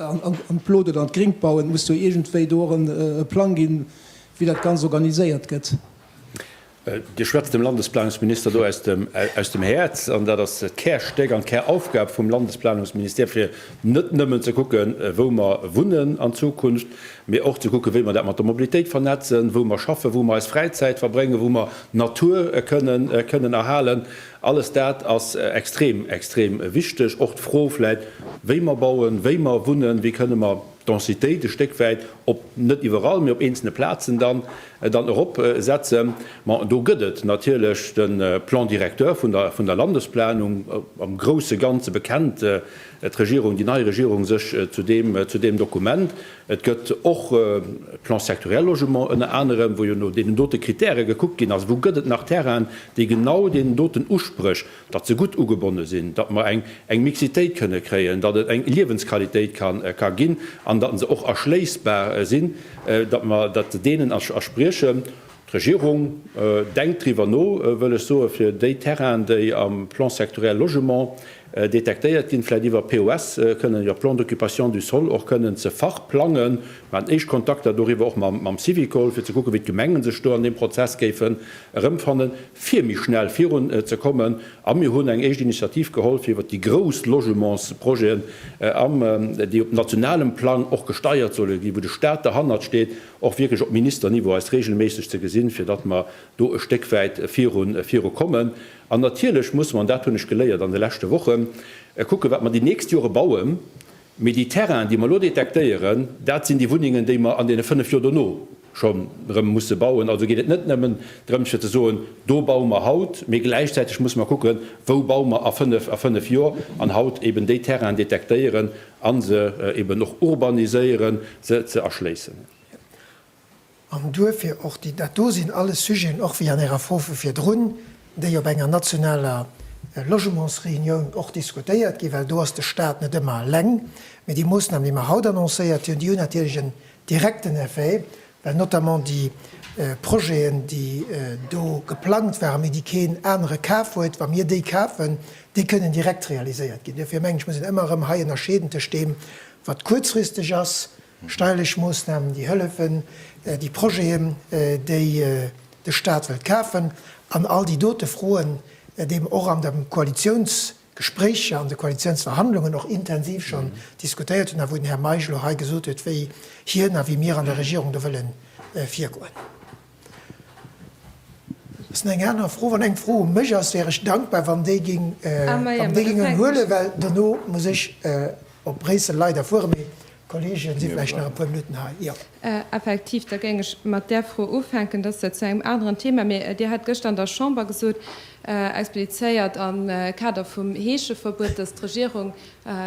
an d'Blot oder an d'Gringt bauen, et muss jo iergendwéi do och e Plang ginn, wéi dat Ganzt organiséiert gëtt. Dir schwätzt dem Landesplanungsminister do aus dem Häerz, an dat ass d'Kärstéck an d'Käraufgab vum Landesplanungsministère, fir net nëmmen ze kucken, wou mer wunnen an Zukunft, mee och ze kucken, wéi mer dat mat der Mobilitéit vernetzen, wou mer schaffen, wou mer eis Fräizäit verbréngen, wou mer d'Natur kënnen erhalen. Alles dat ass extrem, extrem wichteg. Och d'Fro vläit, wéi mer bauen, wéi mer wunnen, wéi kënne mer d'Densitéit e Stéck wäit op, net iwwerall, mee op eenzelne Plazen dann, dann eropsetzen. Ma do gëtt et natierlech de Plan directeur vun der, vun der Landesplanung, am grouse Ganze bekennt d'Regierung, déi nei Regierung sech zu deem, zu deem Dokument. Et gëtt och e Plan sectoriel logement ënner anerem, wou jo no deenen dote Kritäre gekuckt ginn ass, wou gëtt et nach Terrainen, déi genau deenen doten Uspréch, datt se gutt ugebonne sinn, datt mer eng Mixitéit kënne kréien, datt et eng Liewensqualitéit ka ginn an datt se och erschléissbar sinn, datt mer dat deenen erspriechen. D'Regierung denkt driwwer no, wëll ech soen, fir déi Terrainen, déi am Plan sectoriel logement detektéiert ginn, vläicht iwwer POS kënnen, iwwer Plan d'occupation du sol och kënnen ze verplangen. Mir haten éischt Kontakter doriwwer och mam Syvicol, fir ze kucken, wéi d'Gemenge sech do an deem Prozess géifen erëmfannen, fir méi schnell virun ze kommen. A mir hunn eng éischt Initiativ geholl, fir iwwer déi grouss Logementsprojeten, déi op nationalem Plang och gesteiert solle ginn, wou de Stat derhannert steet, och wierklech op Ministerniveau eis regelméisseg ze gesinn, fir datt mer do e Stéck wäit viru kommen. An natierlech musse mer, an dat hunn ech geléiert an de leschte Wochen, kucken, wat mer déi nächst Jore bauen, mee déi Terrainen, déi mer elo detektéieren, dat sinn déi Wunnengen, déi mer an deene fënnf Joer dono scho rëm musse bauen. Also geet et net nëmmen drëms, fir ze soen, do baue mer haut, mee gläichzäiteg musse mer kucken, wou baue mer a fënnf Joer, an haut eben déi Terrainen detektéieren, A se eeben och urbaniséieren, se ze erschléissen. An duerfir och déi, dat do sinn alles Sujeten, och wéi an Ärer Fro vu virdrun, déi op enger nationaler Logementsreunioun och diskutéiert ginn, well do ass de Stat net ëmmer eleng. Mee déi Moossnamen, déi mer haut annoncéiert hunn, déi hunn natierlech en Direkten Effet, well notamment déi Projeten, déi do geplangt waren, mee déi keen anere kaf huet, wa mir déi kafen, déi kënnen direkt realiséiert ginn. Duerfir mengen ech, muss een ëmmer erëm hei ënnerscheeden tëscht deem, wat kuerzfristeg ass, steierlech Moosnamen, déi hëllefen, déi Projeten, déi de Stat wëllt kafen, an all déi dote Froen, déi och an dem Koalitionsprogramm Gespréicher an de Koalitionsverhandlungen och intensiv schonn diskutéiert hunn a wou den Här Meisch elo hei gesot huet, wéi hien a wéi mir an der Regierung do wëlle virgoen. Ass nach eng aner Fro? Wann eng Fro u mech ass, wär ech dankbar, wann déi géing, wann déi géingen huelen, well dono muss ech op Bréissel leider fueren. Mee Kolleegen si vläicht nach e puer Minutten hei, jo. Effektiv, da géing ech mat där Fro ufänken. Dass zu engem aneren Thema, mee Dir hat gëschter an der Chamber gesot, explizéiert am Kader vum Heescheverbuet, dass d'Regierung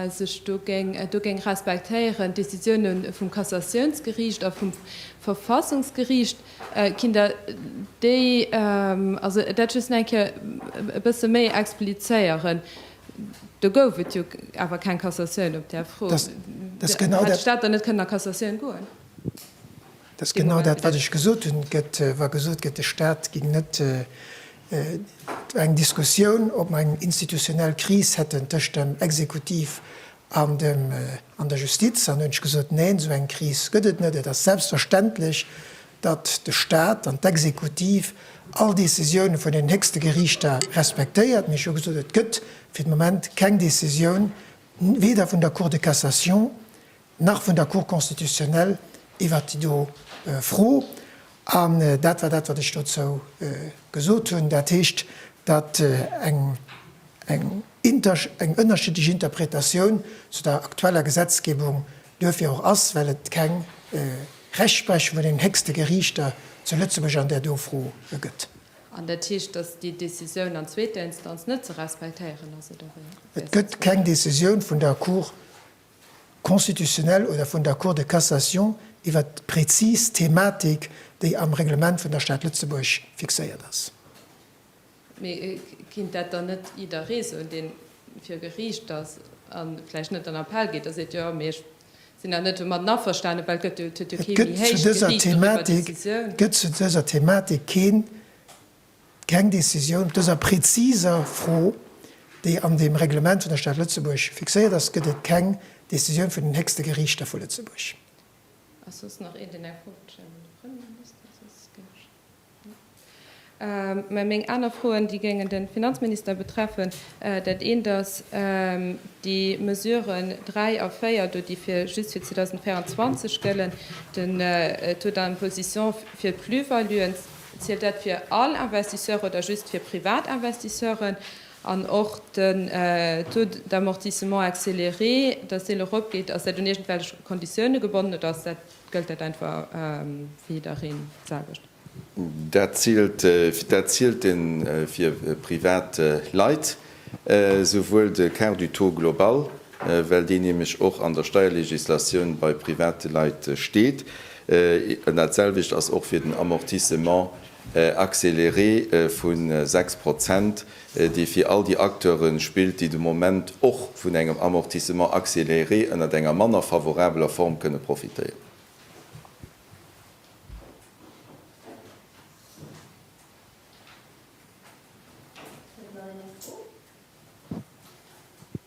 sech do géing, do géing respektéieren d'Décisioune vum Kassatiounsgeriicht a vum Verfassungsgeriicht. Kinnt Der déi, also dat just nach eng Kéier e bësse méi explizéieren? Do gouf et jo awer keng Cassatioun op där Fro. Hätt d'Stad dann net kënnen a Cassatioun goen? Dat ass genau dat, wat ech gesot hunn, wa gesot gëtt, de Stat géing net. Et war eng Diskussioun, ob mer eng institutionell Kris hätten tëscht dem Exekutiv an der Justiz. An da hunn ech gesot, Neen, esou eng Kris gëtt et net. Et ass selbstverständlech, datt de Staat an d'Exekutiv all Decisioune vun den héchste Geriichter respektéiert, mee ech hu gesot, et gëtt fir de Moment keng Decisioun weder vun der Cour de Cassation nach vun der Cour constitutionnelle iwwert déi do Fro. An dat war dat, wat ech dozou gesot hunn. Dat heescht, datt eng ënnerschiddlech Interpretatioun zu der aktueller Gesetzgebung duerfir och ass, well et keng Rechtsprechung vun den héchste Geriichter zu Lëtzebuerg an där do Fro gëtt. An dat heescht, datt déi Decisioun an zweeter Instanz net ze respektéieren ass, oder wéi? Et gëtt keng Decisioun vun der Cour constitutionnelle oder vun der Cour de cassation iwwer d'prezis Thematik, déi am Reglement vun der Stad Lëtzebuerg fixéiert ass. Mee kinnt dat dann net jidderee soen, deen vir Geriicht ass a vläicht net an Appell geet a seet, jo, mee ech sinn da net domatten averstanen, well et huet jo kee méi héich Geriicht doriwwer Decisioun. Et gëtt zu dëser Thematik keen, keng Decisioun op dëser präziser Fro, déi an deem Reglement vun der Stad Lëtzebuerg fixéiert ass, gëtt et keng Decisioun vun den héchste Geriichter vu Lëtzebuerg. Ass soss nach een, deen eng Fro wëllt stellen un de Premierminister? Soss ginn ech. Mä meng aner Froen, déi géingen de Finanzminister betreffen. Dat eent ass déi Mesuren 3 a 4 do, déi fir just fir 2024 gëllen, den Taux d'imposition fir d'Plus-valuen. Zielt dat fir all Investisseur oder just fir privat Investisseuren? An och den Taux d'amortissement accéléré, datt deen eropgeet, ass dat un iergendwelch Konditioune gebonnen oder ass dat Gëllt dat einfach fir jiddereen d'selwecht? Dat zielt een fir privat Leit, souwuel de Quart du taux global, well deen nämlech och an der Steierlegislatioun bei private Leit steet, an dat selwecht ass och fir den Amortissement accéléré vu sechs Prozent, déi fir all déi Acteure spillt, déi de Moment och vun engem Amortissement accéléré ënnert enger manner favorabeler Form kënne profitéieren.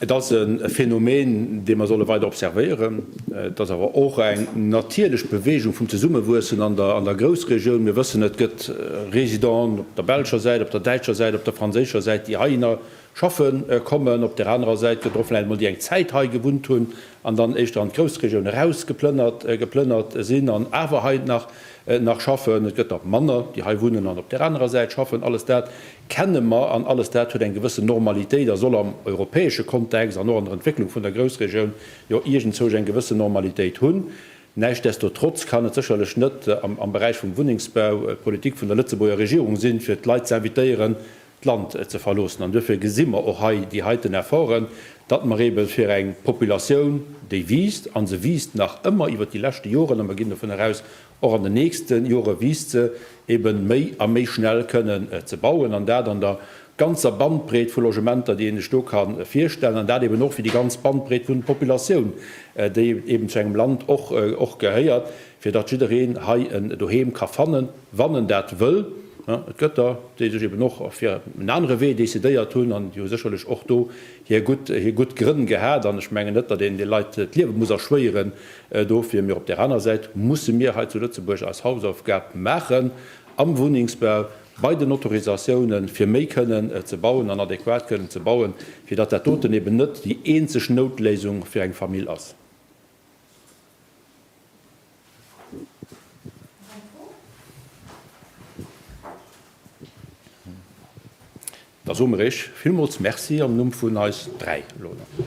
Et ass e Phänomen, dee mer solle weider observéieren. Et ass awer och eng natierlech Beweegung vum Zesummewuessen an der Groussregioun. Mir wëssen, et gëtt Residenten op der belscher Säit, op der däitscher Säit, op der franséischer Säit, déi heihinner schaffe kommen. Op där anerer Säit gëtt der och vläicht emol, déi eng Zäit hei gewunnt hunn an dann éischter an d'Groussregioun erausgeplënnert sinn an awer hei nach schaffen. Et gëtt der manner, déi hei wunnen an op där anerer Säit schaffen. Alles dat kenne mer, an alles dat huet eng gewëssen Normalitéit a soll am europäesche Kontext an och an der Entwécklung vun der Groussregioun jo iergendzouch eng gewëssen Normalitéit hunn. Näischtdestotrotz kann et sécherlech net am Beräich vum Wunnengsbau d'Politik vun der Lëtzebuurger Regierung sinn, fir d'Leit ze invitéieren, d'Land ze verloossen. An duerfir gesi mer och hei déi heiten Efforten, datt mer eebe fir eng Populatioun, déi wiisst, a se wiisst nach ëmmer iwwert déi leschte Joren, a mer ginn dovunner aus, Och an den nächste Jore wiisst se, ebe méi a méi schnell kënnen ze bauen, an dat an der ganzer Bandbreet vu Logementer, déi ee sech do ka virstellen, an dat eben och fir déi ganz Bandbreet vun Populatioun, déi eben zu engem Land och gehéiert, fir datt jiddereen hei en Doheem ka fannen, wann en dat wëll. Et gëtt der, déi sech eben och fir en anere Wee decidéiert hunn, an déi hu sécherlech och do hir gutt Grënn gehat, an ech mengen net, datt een de Leit d'Liewe muss erschwéieren, Dofir, mee op där aner Säit musse mir hei zu Lëtzebuerg eis Hausaufgab maachen am Wunnengsbau, bei den Autorisatiounen, fir méi kënnen ze bauen an adequat kënnen ze bauen, fir datt dat doten eben net déi eenzeg Noutléisung fir eng Famill ass. Da soe mer Iech villmools Merci am Numm vun eis dräi elo nach.